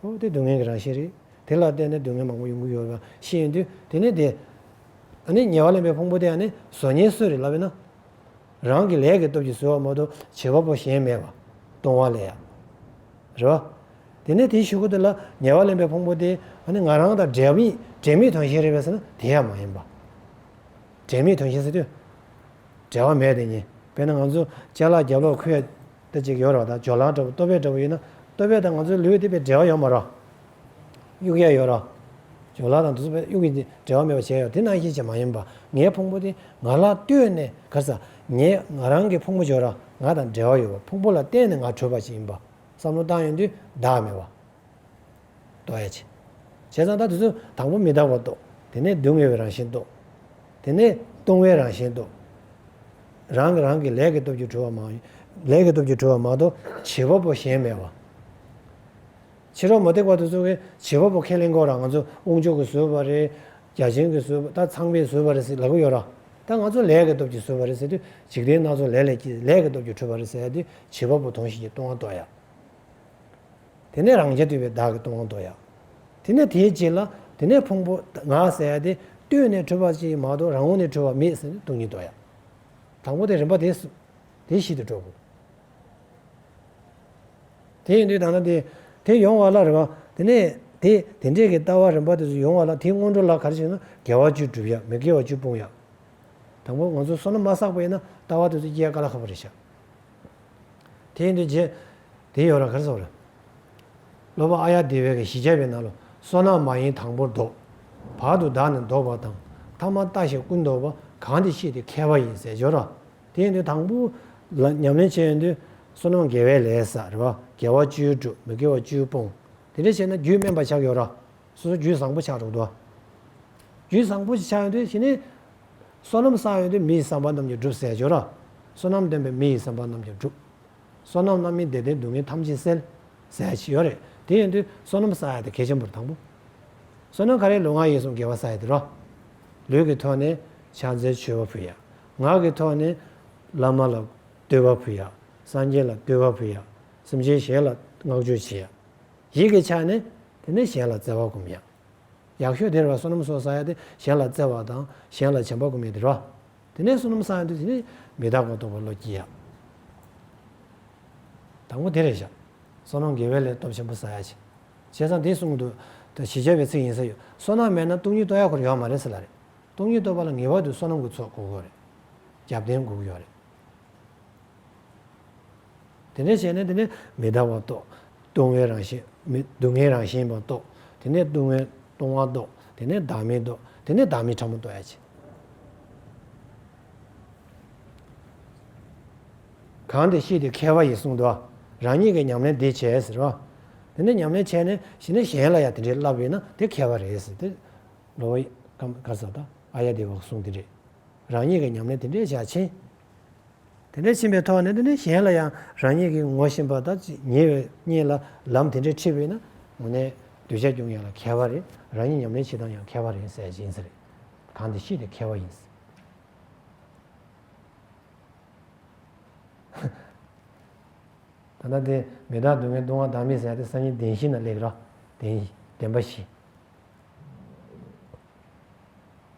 ཨོ་དེ་སྡུག་བསྔལ་གྱི་རང་བཞིན་རེད། དེ་ལ་བརྟེན་ནས་སྡུག་བསྔལ་མང་པོ་ཡོང་གི་ཡོད་པ་ཤེས་ཡོང་དུས་དེ་ནི་དེ། ཨ་ནི་ཉལ་བ་ལེན་པའི་ཕུང་པོ་དེ་ཨ་ནི་བཟོ་ཉལ་གསོས་རེད་ལབ་པས་ན། རང་གི་ལས་ཀྱི་སྟོབས་ཀྱིས་གསོལ་བ་མ་གཏོགས་བྱེད་པ་པོ་གཞན་མེད་པ། གཏོང་བ་ལས། རེ་བ། དེ་ནས་དེའི་ཤུལ་ཁུ་དེ་ལ་ཉེ་བར་ལེན་པའི་ཕུང་པོ་དེ་ནི་ང་རང་དང་འབྲེལ་མེད་དོན་གཞན་རེད་པས་ན་དེ་ཡང་མ་ཡིན་པ། འབྲེལ་མེད་དོན་གཞན་ཟེར་དུས། འབྲེལ་བ་མེད་དེ་ཉིད་དཔེར་ན་ང་ཚོ་སྤྱན་ལག་རྒྱབ་ལོགས་ཁོད་དེ་གཅིག་ཡོད་རོགས་དང་ཇོ་ལང་འདྲ་བོ་ལྟོ་བས་འདྲ་བོ་ཡོད་ན་ལྟོ་བས་དང་ང་ཚོའི་ལུས་དེ་བས་འབྲེལ་བ་ཡོད་མ་རོགས། དབྱུག་ཡ་ཡོད་རོགས། ཇོ་ལང་དང་དུ་སུ་བས་དབྱུག་གིས་འབྲེལ་བ་མེད་པ་བྱས་ཡོད་དེ་ནང་བཞིན་བྱས་མ་ཡིན་པ་ངའི་ཕུང་པོ་དེ་ང་ལ་ལྟོས་ནས་གར་ས་ངས་ང་རང་གི་ཕུང་པོ་ཇོ་རང་ང་དང་འབྲེལ་བ་ཡོད་པ་ཕུང་པོ་ལ་བརྟེན་ནས་ང་བྲོས་པ་ཞིག་ཡིན་པ་བསམ་བློ་བཏང་ཡོད་དུས་བདག་མེད་པ། རྟོག་ཡ་བྱེད། བྱས་ཙང་ད་དེ་ཚོ་དང་པོ་མི་རྟག་པར་རྟོག། དེ་ནས་སྡུག་བསྔལ་བའི་རང་བཞིན་རྟོག། དེ་ནས་ལྟུང་བའི་རང་བཞིན་རྟོག། རང་གིས་རང་གི་ལས་ཀྱི་སྟོབས་ཀྱིས་གྲོལ་བ་མ། ལས་ཀྱི་སྟོབས་ཀྱིས་གྲོལ་བ་མ་གཏོགས་བྱེད་པ་པོ་གཞན་མེད་པ། ཕྱི་རོལ་མུ་སྟེགས་པ་དེ་ཚོ་གི་བྱེད་པ་པོ་ཁས་ལེན་དགོས་ར་ང་ཚོ་དབུགས་འཇུག་གི་བཟོད་པ་རེད། རྒྱ་ཆེན་གྱི་བཟོད་པ་ད་ཚངས་པའི་བཟོད་པ་རེད་ཟེར་ལབ་གི་ཡོད་ར། ད་ང་ཚོ་ལས་ཀྱི་སྟོབས་ཀྱིས་བཟོད་པ་རེད་ཟེར་དུས་འཇིག་རྟེན་སྣ་ཚོགས་ལས་ལས་ཀྱི་ལས་ཀྱི་སྟོབས་ཀྱིས་གྲོལ་བ་རེད་ཟེར་ཡ་དུས་བྱེད་པ་པོ་དོང་ཞིག་གི་ལྟུང་བ་རྟོག་ཡ། དེ་ནས་རང་རྒྱལ་དུལ་བའི་བདག་གི་སྟོང་དོ་ཡང། དེ་ནས་དེའི་རྗེས་ལ་དེ་ནས་ཕུང་པོ་ང་ཟད་དེ་ལྟོས་ནས་གྲོལ་བ་ཅིག་མ་གཏོགས་རང་ངོ་ནས་གྲོལ་བ་མེད་ཟེར་ནས་སྟོང་ཉིད་དོ་ཡང། དང་པོ་དེ་རིམ་པ་དེ་བཞིན་དུ་འགྲོ། དེ་ཡིན་དུས་ད་ནི་དེ་ཡོང་བ་ལ་རེ་བ། དེ་ནས་དེ་དེ་འདྲས་ཀྱི་ལྟ་བ་རིམ་པ་དེ་སུ་ཡོང་བ་ལ་དེའི་སྔོན་འགྲོ་ལ་གར་བྱེད་ན་དགེ་བ་བཅུ་བསྒྲུབ་ཡང་མི་དགེ་བ་བཅུ་སྤོང་ཡང། དང་པོ་ང་ཚོ་བསོད་ནམས་མ་བསགས་པས་ན་ལྟ་བ་དེ་ཚོ་སྐྱེ་ག་ལ་ཁག་པ་རེད་བྱ། དེ་ཡིན་དུས་རྗེ། དེ་ཡོད་ར་གར་སོང་ར། ལོ་པ་ཨ་ཡ་དེ་བས་ཀྱི་གཞི་བྱ་བའི་ནང་ལོ་སོ་ནག་མ་ཡིན་དང་པོར་ལྡོག། བར་དུ་བདག་ནི་ལྡོག་པ་དང་ཐ་མ་ལྟ་ཞིང་ཀུན་ལྡོག་པ་གང་དེ་ཤེས་དུས་ཁ་བ་ཡིན་ཟེར་སྦྱོར་ར། དེ་ཡིན་དུས་དང་པོ། ལ་ཉམས་ལེན་བྱེད་ཡོན་དུས་སོ་ནམ་དགེ་བའི་ལས་ས་རེ་བ་དགེ་བ་བཅུའི་བསྒྲུབ་མི་དགེ་བ་བཅུའི་སྤོང། དེ་འདྲ་བྱས་ན་རྒྱུད་དམན་པ་ཆགས་ཡོད་ར། སོ་སོ་རྒྱུད་བཟང་པོ་ཆགས་འགྲོ་གདོ། རྒྱུད་བཟང་པོ་ཞིག་ཆགས་ཡོན་དུས་ཞི་གནས། བསོད་ནམས་བསགས་ཡོད་དུས་མི་ཡི་བསམ་པ་རྣམས་ཀྱང་འགྲུབ་ཟས་སྦྱོར། བསོད་ནམས་ལྡན་པས་མི་ཡི་བསམ་པ་རྣམས་ཀྱང་འགྲུབ། བསོད་ནམས་རྣམ་སྨིན་བདེ་ལྡན་སྡུག་བསྔལ་ཐམས་ཅད་སེལ། ཟས་ཇི་ཡོད་རེག་དེ་ཡོད་དུས་བསོད་ནམས་བསགས་ཡོད་དེ་གལ་ཆེན་པོར་དང་པོ། བསོད་ནམས་ག་རེ་ལུས་ངག་ཡིད་གསུམ་དགེ་བ་བསགས་ཡོད་དུས་རོ། ལུས་ཀྱི་ཐོག་ནས་ཕྱག་མཛོད་མཆོད་པ་ཕུལ་ཡ། ངག་གི་ཐོག་ནས། བླ་མ་ལ་བསྟོད་པ་ཕུལ་ཡ། སངས་རྒྱས་ལ་བསྟོད་པ་ཕུལ་ཡ། སེམས་ཅན་གཞན་ལ་བསྔགས་བརྗོད་བྱས་ཡ། ཡིད་ཀྱི་ཆ་ནས། དེ་ནས་གཞན་ལ་བརྩེ་བ་བསྒོམ་ཡ། ཡག་ཤོས་དེར་བསོད་ནམས་གསོག་ས་ཡ་དེ་གཞན་ལ་བརྩེ་བ་དང་གཞན་ལ་བྱམས་པ་གོ་མི་དེར་བ། དེ་ནས་བསོད་ནམས་གསག་ཡ་དེ་དེ་ནས་མི་བདག་གོ་རྟོགས་པ་བློ་སྐྱེ་ཡ། དང་པོ་དེ་རེད་བཞག། བསོད་ནམས་དགེ་བའི་ལས་སྟོབས་ཆེན་པོ་གསག་ཡ་བྱེད། བྱས་ཙང་དེ་གསུངས་འདུག་ད་ཞི་བྱ་བའི་ཚིག་ཡིན་ས་ཡོད། བསོད་ནམས་མེད་ན་སྟོང་ཉིད་རྟོགས་ཡ་གོ་རེ་ཡོད་མ་རེད་ཟེར་ལ་རེད། སྟོང་ཉིད་རྟོགས་པ་ལ་ངེས་བར་དུ་བསོད་ནམས་ཀུ་ཚོགས་དགུག་གོ་རེད། རྒྱབ་རྟེན་དགུག་ཡོད་རེད། དེ་ནས་བྱས་ནས་དེ་ནས་མི་ལྡང་བ་རྟོགས། ལྟུང་བའི་རང་བཞིན། སྡུག་བསྔལ་རང་བཞིན་པར་རྟོགས། དེ་ནས་ལྟུང་བའི་ལྟུང་བ་རྟོགས། དེ་ནས་བདག་མེད་རྟོགས། དེ་ནས་བདག་མེད་ཕྲ་མོ་རྟོགས། གང་དེ་ཤེས་ཏེ་མཁས་པ་ཡིས་གསུངས་ཏོ། རང་ཉིད་ཀྱིས་ཉམས་ལེན་འདི་བྱས་ཟེར་རོ། དེ་ནས་ཉམས་ལེན་བྱས་ནས་ཞི་ནས་གཞན་ལ་ཡང་དེ་འདྲའི་བསླབ་བའི་ན་དེ་མཁས་པ་རེད། ཟེར་ཏེ། ལོ་ཡི་ཀ་ས་ཏཱ་ཨ་ཡ་དེ་བ་གསུངས་དེ་འདྲས། རང་ཉིད་ཀྱི་ཉམས་ལེན་དེ་འདྲའི་རྒྱ་ཆེན། དེ་འདྲའི་ཕྱིན་པའི་ཐོག་ནས་དེ་འདྲའི་གཞན་ལ་ཡང་རང་ཉིད་ཀྱིས་ངོ་ཤེས་པ་དང་ཉེ་བའི་གཉིས་ལ་ལམ་དེ་འདྲའི་འཁྲིད་བས་ན་ངོ་ནས་གདུལ་བྱ་ཀྱང་ཡང་ལ་མཁས་པ་རེད་རང་ཉིད་ཉམས་ལེན་བྱེད་སྟངས་ཡང་མཁས་པ་རེད་ཟེར་གྱིན་ཟེར། གང་དེ་ཤེས་ཏེ་མཁས་པ་ཡིན། ད་ལྟ་དེ་མི་བདག་སྡུག་བསྔལ་ལྟུང་བ་བདག་མེད་ཟད་དེ་སང་ཉིན་བདེན་བཞི་ན་ལེགས་ར་བདེན་བདེན་པ་བཞི།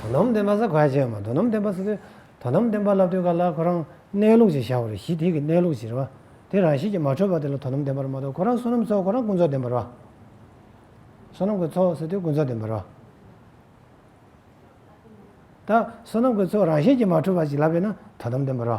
དོ་དམ་བདེན་པ་ས་ག་བྱས་མ་དོ་དམ་བདེན་པ་ས་དེ་དོ་དམ་བདེན་པ་བསླབ་དུས་ག་ལ་ཁོ་རང་གནས་ལུགས་ཅིག་བཞག་པ་རེད་གཞི་ཐིག་གི་གནས་ལུགས་ཅིག་རེད་བ་དེ་རང་བཞིན་གྱིས་མ་འཕྲོད་པ་དེ་ལ་དོ་དམ་བདེན་པར་མ་གཏོགས་ཁོ་རང་བསོད་ནམས་ཚོགས་ཁོ་རང་ཀུན་རྫོབ་བདེན་པར་བ། བསོད་ནམས་ཀྱི་ཚོགས་ཟེར་དུས་ཀུན་རྫོབ་བདེན་པར་བ། ད་བསོད་ནམས་ཀྱི་ཚོགས་རང་བཞིན་གྱིས་མ་འཕྲོད་པ་ཅིག་ལབ་པས་ན་དོ་དམ་བདེན་པར་བ།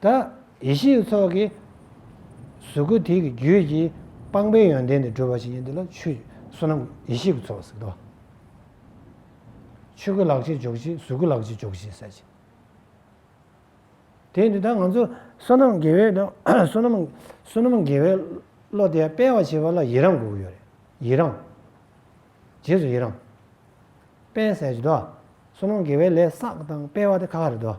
ད་ཡེ་ཤེས་ཚོགས་ཀྱི་གཟུགས་སྐུ་དེ་ཀྱི་རྒྱུད་ཀྱི་སྤངས་པའི་ཡོན་ཏན་དེ་བསྒྲུབ་པ་ཅི་ཡིན་འདི་ལ་ཆུ་བསོད་ནམས་ཡེ་ཤེས་ཀྱི་ཚོགས་སུ་ཟེར། ཆོས་སྐུ་ལག་ཕྱེད་འཇོག་བྱེད་གཟུགས་སྐུ་ལག་ཕྱེད་འཇོག་བྱེད་ཟེར། དེ་ནི་ད་ང་ཚོ་བསོད་ནམས་དགེ་བའི་དང་བསོད་ནམས་བསོད་ནམས་དགེ་བའི་བློ་དེ་སྤེལ་བར་བྱེད་པ་ལ་ཡི་རང་དགོས་ཀྱི་ཡོད་རེད། ཡི་རང། རྗེས་སུ་ཡི་རང། སྤེལ་ཟེར་གྱི་འདུག་བསོད་ནམས་དགེ་བའི་ལས་བསགས་དང་སྤེལ་བ་དེ་ཁ་ཁ་རེད་འདུག།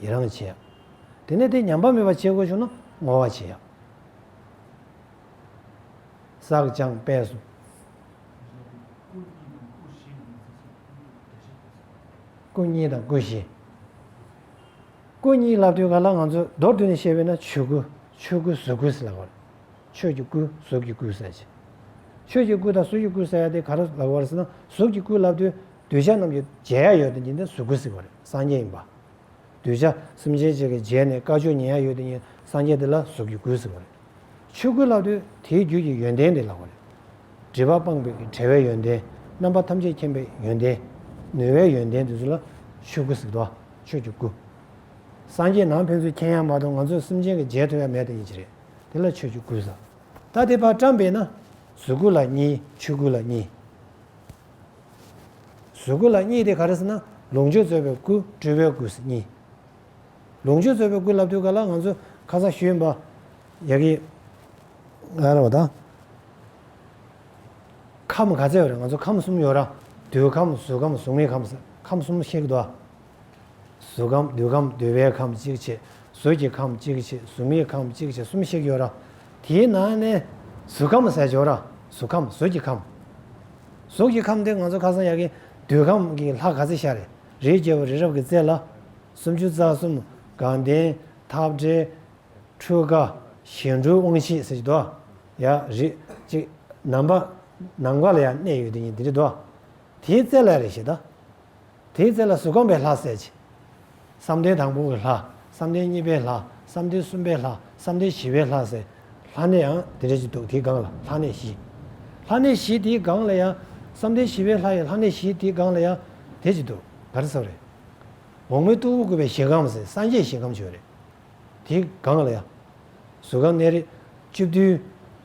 ཡི་རང་བྱེད། དེ་ནས་དེ་ཉམས་པ་མེད་པར་བྱེད་དགོས་བྱུང་ན་བསྔོ་བ་བྱེད། བསགས་སྦྱངས་སྤེལ་གསུམ། སྐུ་གཉིས་དང་སྐུ་བཞི། སྐུ་གཉིས་ལབ་དུས་ག་ལ་ང་ཚོས་མདོར་བསྡུས་ནས་བཤད་པས་ན་ཆོས་སྐུ་ཆོས་སྐུ་གཟུགས་སྐུ་ཟེར་ལ་བར། ཆོས་ཀྱི་སྐུ་གཟུགས་ཀྱི་སྐུ་ཟེར་ཅིང། ཆོས་ཀྱི་སྐུ་དང་གཟུགས་ཀྱི་སྐུ་ཟེར་ཡ་དེ་ག་རེ་ལ་བར་ཟེར་ན་གཟུགས་ཀྱི་སྐུ་ལབ་དུས་གདུལ་བྱ་རྣམས་ཀྱི་མཇལ་ཡ་ཡོད་དོ་ཉིད་དེ་གཟུགས་སྐུ་ཟེར་བ་རེད། སངས་རྒྱས་ཡིན་པ། གདུལ་བྱ་སེམས་ཅན་གཅིག་གི་རྗེས་ནས་དཀའ་སྤྱོད་ཉེན་ཡང་ཡོད་དེ་ཉིད་སངས་རྒྱས་དེ་ལ་གཟུགས་ཀྱི་སྐུས་གཟིགས་པ་རེད། ཆོས་སྐུ་ལགས་དུས་དེའི་རྒྱུད་ཀྱི་ཡོན་ཏན་འདི་ལགས་པ་རེད། སྒྲིབ་པ་སྤངས་པའི་བྲལ་བའི་ཡོན་ཏན། རྣམ་པ་ཐམས་ཅད་མཁྱེན་པའི་ཡོན་ཏན། ནུས་བའི་ཡོན་ཏན་དེ་ཚོ་ལ་ཆོས་སྐུ་གཟིགས་དོ། ཆོས་ཀྱི་སྐུ། སངས་རྒྱས་ནང་ཕན་ཚུན་མཁྱེན་ཡ་མ་གཏོགས་ང་ཚོས་སེམས་ཅན་གྱི་རྗེས་ཐོན་ཡ་མེད་དེ་ཉིད་ཀྱི་རེད། དེ་ལ་ཆོས་ཀྱི་སྐུས་གཟིགས། ད་དེ་བར་བཀྲམ་པས་ན། གཟུགས་སྐུ་ལ་གཉིས་ཆོས་སྐུ་ལ་གཉིས། གཟུགས་སྐུ་ལ་གཉིས་ཏེ་ག་རེ་ཟེར་ན་ལོངས་སྤྱོད་རྩོལ་བའི་སྐུ་སྤྲུལ་པའི་སྐུ་གཉིས། ལོངས་སྤྱོད་རྩོལ་བའི་སྐུ་ལབ་དུས་ག་ལ་ང་ཚོས་ཁ་ཚ་ཤུལ་འབའ་ཡག་གི། ང་རོ་དང། ཁམས་ག་ཚད་ཡོད་རེད་ང་ཚོ་ཁམས་གསུམ་ཡོད་ར་འདུལ་ཁམས་གཟུགས་ཁམས་གཟུགས་མེད་ཁམས་ཟེར་ཁམས་གསུམ་ཤེས་ཀྱི་འདུག་ཨ། གཟུགས་ཁམས་བདུད་ཁམས་བསྡུ་བའི་ཁམས་གཅིག་ཕྱེད་གཟུགས་ཀྱི་ཁམས་གཅིག་ཕྱེད་གཟུགས་མེད་ཁམས་གཅིག་ཕྱེད་གསུམ་ཤེས་ཀྱི་ཡོད། དེའི་ནང་ནས་གཟུགས་ཁམས་ཟེར་ཆོག་གཟུགས་ཁམས་གཟུགས་ཀྱི་ཁམས། གཟུགས་ཀྱི་ཁམས་དེ་ང་ཚོ་ཁ་སང་ཡག་གི་བདུད་ཁམས་ཀྱི་ལྷ་ག་ཚེ་ཤ་རེ་རེའི་རྒྱལ་པོ་རི་རབ་ཀྱི་རྩེ་ལ། སུམ་ཅུ་རྩ་གསུམ་དགའ་ལྡན་འཐབ་བྲལ། འཕྲུལ་དགའ་གཞན་འཕྲུལ་དབང་བཞི་ཟེར་གྱི་འདུག་ཡ། རིགས་གཅིག་ནམ་པ་ནམ་མཁའ་ལ་ཡང་གནས་ཡོད་དེ་ཉིད་དེ་འདྲའི་འདུག་དེའི་རྩེ་ལ་རེ་ཞིག་ད། དེའི་རྩེ་ལ་གཟུགས་ཁམས་པའི་ལྷ་གསལ་བྱེད། བསམ་གཏན་དང་པོ་བའི་ལྷ། བསམ་གཏན་གཉིས་པའི་ལྷ། བསམ་གཏན་གསུམ་པའི་ལྷ། བསམ་གཏན་བཞི་བའི་ལྷ་གསལ། ལྷ་གནས་ཡང་དེ་འདྲ་ཞིག་འདུག་དེའི་སྒང་ལ་ལྷ་གནས་བཞི། ལྷ་གནས་བཞི་དེའི་སྒང་ལ་ཡང། བསམ་གཏན་བཞི་བའི་ལྷ་ཡི་ལྷ་གནས་བཞི་དེའི་སྒང་ལ་ཡང། དེ་ཅིག་འདུག་ག་རེ་ས་རེད། འོག་མའི་སྟུག་པོ་བསྐུལ་བའི་ཞིང་ཁམས་ཟེར་སངས་རྒྱས་ཞིང་ཁམས་ཆོས་རེད། དེའི་སྒང་ལ་ཡང། གཟུགས་ཁམས་གནས་རི། བཅུ་བདུན།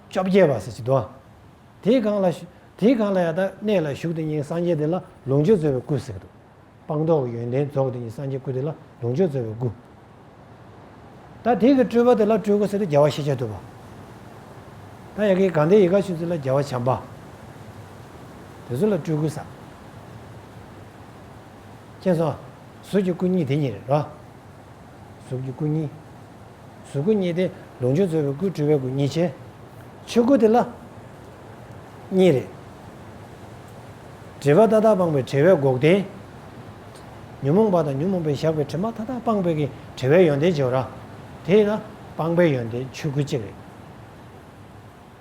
བཅོ་བརྒྱད་པ་ཟེར་ཅིག་འདུག་ཨང། དེས་གང་ལ། དེས་གང་ལ་ཡང་དག་གནས་ལ་ཞུགས་དེ་ཉིད་སངས་རྒྱས་དེ་ལ་ལོངས་སྤྱོད་སྩོལ་བའི་སྐུ། སྲེག་བཟློག་སྤངས་རྟོགས་ཀྱི་ཡོན་ཏན་རྫོགས་དེ་ཉིད་སངས་རྒྱས་སྐུ་དེ་ལ་ལོངས་སྤྱོད་སྩོལ་བའི་སྐུ། ད་དེས་གི་སྤྲུལ་པ་དེ་ལ་སྤྲུལ་སྐུ་སྲེག་དེ་རྒྱལ་བ་ཤེས་བྱ་བསྡུ་བ། ད་ཡ་གི་གང་དེ་ཡི་ག་ཆུ་ཚིགས་ལ་རྒྱལ་བ་བྱམས་པ། དེ་ཚོ་ལ་སྤྲུལ་སྐུ་ཟག། མཁྱེན་སོང། གཟུགས་ཀྱི་སྐུ་གཉིས་དེ་ཉིད་རེད་རོ། གཟུགས་ཀྱི་སྐུ་གཉིས། གཟུགས་སྐུ་གཉིས་ཏེ་ལུང་ཆོས་རྩོད་པའི་སྐུའི་སྤྲུལ་པའི་སྐུ་གཉིས་ཆེ། ཆོས་སྐུ་དེ་ལ། གཉིས་རེ། དྲེལ་བ་ཏག་ཏག་སྤངས་པའི་དྲེལ་བས་འགོག་བདེན། ཉོན་མོངས་པ་དང་ཉོན་མོངས་པའི་ཞགས་པའི་དྲི་མ་ཐ་དག་སྤངས་པའི་གིས་དྲེལ་བའི་ཡོན་ཏན་སྦྱོར། དེས་ན་སྤངས་པའི་ཡོན་ཏན་ཆོས་སྐུ་གཅིག་རེ།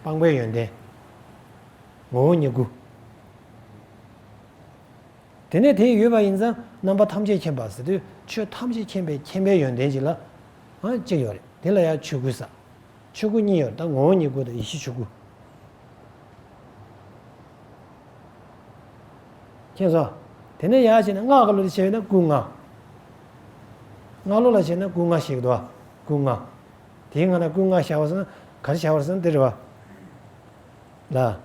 སྤངས་པའི་ཡོན་ཏན། ངོ་བོ་ཉིད་སྐུ། དེ་ནས་དེ་ཡོད་པ་ཡིན་ཙང་རྣམ་པ་ཐམས་ཅད་མཁྱེན་པར་ཟེར་དུས་ཆོས་ཐམས་ཅད་མཁྱེན་པའི་མཁྱེན་པའི་ཡོན་ཏན་གཅིག་ལ། གཅིག་ཡོད་རེད་དེ་ལ་ཡང་ཆོས་སྐུའི་ས། ཆོས་སྐུ་གཉིས་ཡོད་ད་ངོ་བོ་ཉིད་སྐུ་དང་ཡེ་ཤེས་ཆོས་སྐུ། མཁྱེན་སོང། དེ་ནས་ཡང་བྱས་ན་སྔགས་ཀླུ་ལ་བྱས་ན་སྐུ་ལྔ། སྔགས་ཀླུ་ལ་བྱས་ན་སྐུ་ལྔ་ཞིག་དུ་བ་སྐུ་ལྔ། དེའི་སྔ་ན་སྐུ་ལྔ་བྱ་བར་གསུངས་གར་བྱ་བར་གསུངས་དེ་རེད་བ། ལ།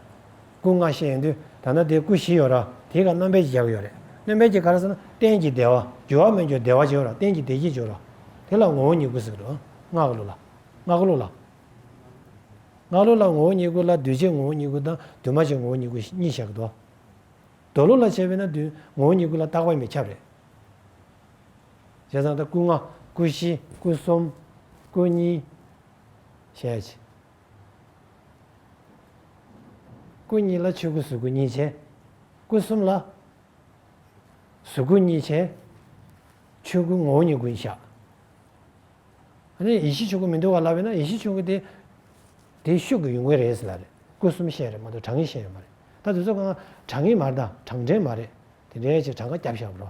སྐུ་ལྔ་བཤད་ཡོང་དུས་ད་ནི་དེའི་སྐུ་བཞི་ཡོད་ར་དེའི་ཁར་རྣམ་པས་བརྒྱད་ཡོད་རེད་རྣམ་པས་བརྒྱད་ག་རེ་ཟེར་ན་རྟེན་གྱི་བདེ་བ་རྒྱུ་བ་མི་འགྱུར་བདེ་བ་བྱེད་ར་རྟེན་གྱི་བདེ་སྐྱིད་འཇུག་ར་དེ་ལ་ངོ་བོ་ཉིད་སྐུ་ཟེར་རོ། སྔགས་ལུགས་ལ། སྔགས་ལུགས་ལ། སྔགས་ལུགས་ལ་ངོ་བོ་ཉིད་སྐུ་ལ་འདུས་བྱས་ངོ་བོ་ཉིད་སྐུ་དང་འདུས་མ་བྱས་ངོ་བོ་ཉིད་སྐུ་གཉིས་བཞག་གི་འདུག་མདོ་ལུགས་ལ་བྱས་པས་ན་འདུས་ངོ་བོ་ཉིད་སྐུ་ལ་བཏགས་པ་མི་ཁྱབ་རེད། བྱས་ཙང་ད་སྐུ་ལྔ་སྐུ་བཞི་སྐུ་གསུམ་སྐུ་གཉིས། ཞེས། སྐུ་གཉིས་ལ་ཆོས་སྐུ་གཟུགས་སྐུ་གཉིས་བྱས། སྐུ་གསུམ་ལ། གཟུགས་སྐུ་གཉིས་བྱས། ཆོས་སྐུ་ངོ་བོ་ཉིད་ཀུན་བཞག། ཨ་ནི་ཡེ་ཤེས་ཆོས་སྐུ་མི་འདུ་བ་ལབ་ཡོད་ན་ཡེ་ཤེས་ཆོས་སྐུ་དེ། དེའི་ཤུགས་ཀྱིས་ཡོང་གི་རེད་ཟེར་ལ་རེད་སྐུ་གསུམ་བཤད་རེད་མ་གཏོགས་གྲངས་ངེས་བཤད་ཡོད་མ་རེད་ད་དེ་ཚོ་གང་གྲངས་ངེས་མ་རེད་ད་གྲངས་འདྲེན་མ་རེད་དེ་འདྲའི་ཕྱིར་གྲངས་ཀ་བརྒྱ་བཞག་པར་རོ།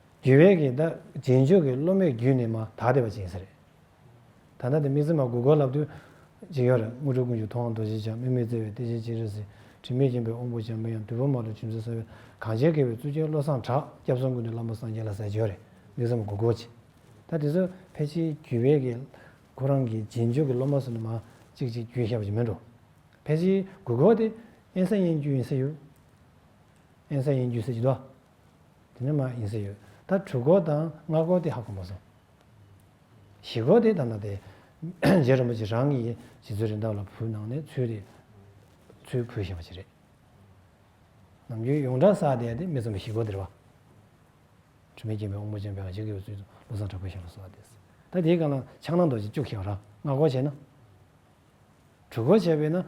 དགེ་བས་ཀྱི་ད་རྗེས་འཇུག་གི་སློབ་མའི་རྒྱུད་ནི་མ་དག་སྡེ་བ་ཅན་ཟེར། ད་ལྟ་དེ་མི་ཚེ་མ་དགུ་གོ་ལབ་དུས། ཅིག་ཡོད་རེད་དངོས་གྲུབ་ཀུན་གྱི་ཐུགས་དབང་རྡོ་རྗེ་འཆང་དམིགས་མེད་བརྩེ་བའི་གཏེར་ཆེན་ཅིག་རེད་ཟེར་དྲི་མེད་མཁྱེན་པའི་དབང་པོ་འཇམ་དཔལ་ཡང་དུས་བབ་མ་ལུས་ཁྲིམས་སྲོལ་གསར་བའི་གངས་ཅན་བསྐལ་བའི་གཙུག་རྒྱན་བློ་བཟང་གྲགས་སྐྱབས་གསུམ་ཀུན་ཏུ་བླ་མ་སངས་རྒྱས་ལ་ཟས་སྦྱོར་རེད་མི་ཚེ་མ་དགུ་གོ་ཅིག་ད་དེ་ཚོ་ཕལ་ཆེའི་རྒྱུད་བས་ཀྱི་ཁོ་རང་གི་རྗེས་འཇུག་གི་སློབ་མ་སུ་ནི་མ་ཅིག་ཅིག་རྒྱུད་ཤེས་པ་ཅིག་མིན་འགྲོ་ཕལ་ཆེའི་དགུ་གོ་དེ་ཨེན་ས་ཡན་རྒྱུད་ཡིན་ཟེར་ཡོད་ཨེན་ས་ཡན་རྒྱུད་ཟེར་གྱི་འདུག། དེ་ནི་མ་ཡིན་ཟེར་ཡོད། ད་དྲུག་སྐོར་དང་ལྔ་སྐོར་དེ་ཧ་གོ་མ་སོང། བཞི་སྐོར་དེ་ད་ནང་དེ། རྗེ་རིན་པོ་ཆེ་རང་གིས་རྗེ་བཙུན་རི་འདབས་ལ་བུ་གནང་ནས་ཚུལ་རེད། ཚུལ་བུ་ཞེས་པ་ཅི་རེད། ནམ་རྒྱུན་ཡོངས་གྲགས་བསགས་བསྡད་དེ་མི་རྩོམ་པའི་བཞི་སྐོར་དེར་བ། དྲི་མེད་སྐྱེས་པའི་དབང་པོ་ཅན་པའི་ཨ་ཅེ་དགེ་བའི་ཚུལ་དུ་བློ་བཟང་དྲག་པོའི་ཞལ་ལ་གསོལ་བ་འདེབས། ད་དེའི་སྐབས་ལ་ཕྱག་ན་རྡོ་རྗེ་བཅུག་ཞེས་པ་ར་ལྔ་སྐོར་བྱས་ན། གྲུ་གོ་བྱས་པས་ན།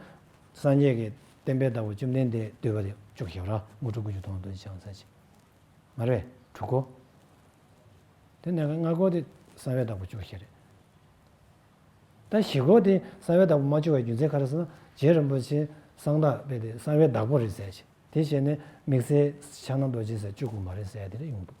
སངས་རྒྱས་ཀྱི་བསྟན་པའི་བདག་པོ་བཅོམ་ལྡན་འདས་བསྡུས་པ་ལས་བཅུ་གཅིག་ར་མོ་དྲུག་དགུ་བཅུ་སྟོང་དུ་བྱང་ཚར་བྱེད། མ་རེད། དྲུག་གོ། དེ་ནས་ལྔ་གོ་དེ་གསང་བའི་བདག་པོ་བཅུ་བཞི་རེད། ད་བཞི་གོ་དེ་གསང་བའི་བདག་པོ་མ་བཅུ་བའི་རྒྱུ་མཚན་ག་རེ་ཟེར་ན་རྗེ་རིན་པོ་ཆེ་གསང་བདག་དཔེ་དེ་གསང་བའི་བདག་པོ་རེད་ཟེར་བྱས་དེ་ཞེས་ནས་དམིགས་བསལ་ཕྱག་ན་རྡོ་རྗེ་ཟེར་བཅུ་དགུ་མ་རེད་ཟེར་དེ་རེད་ཡོང་འདུག།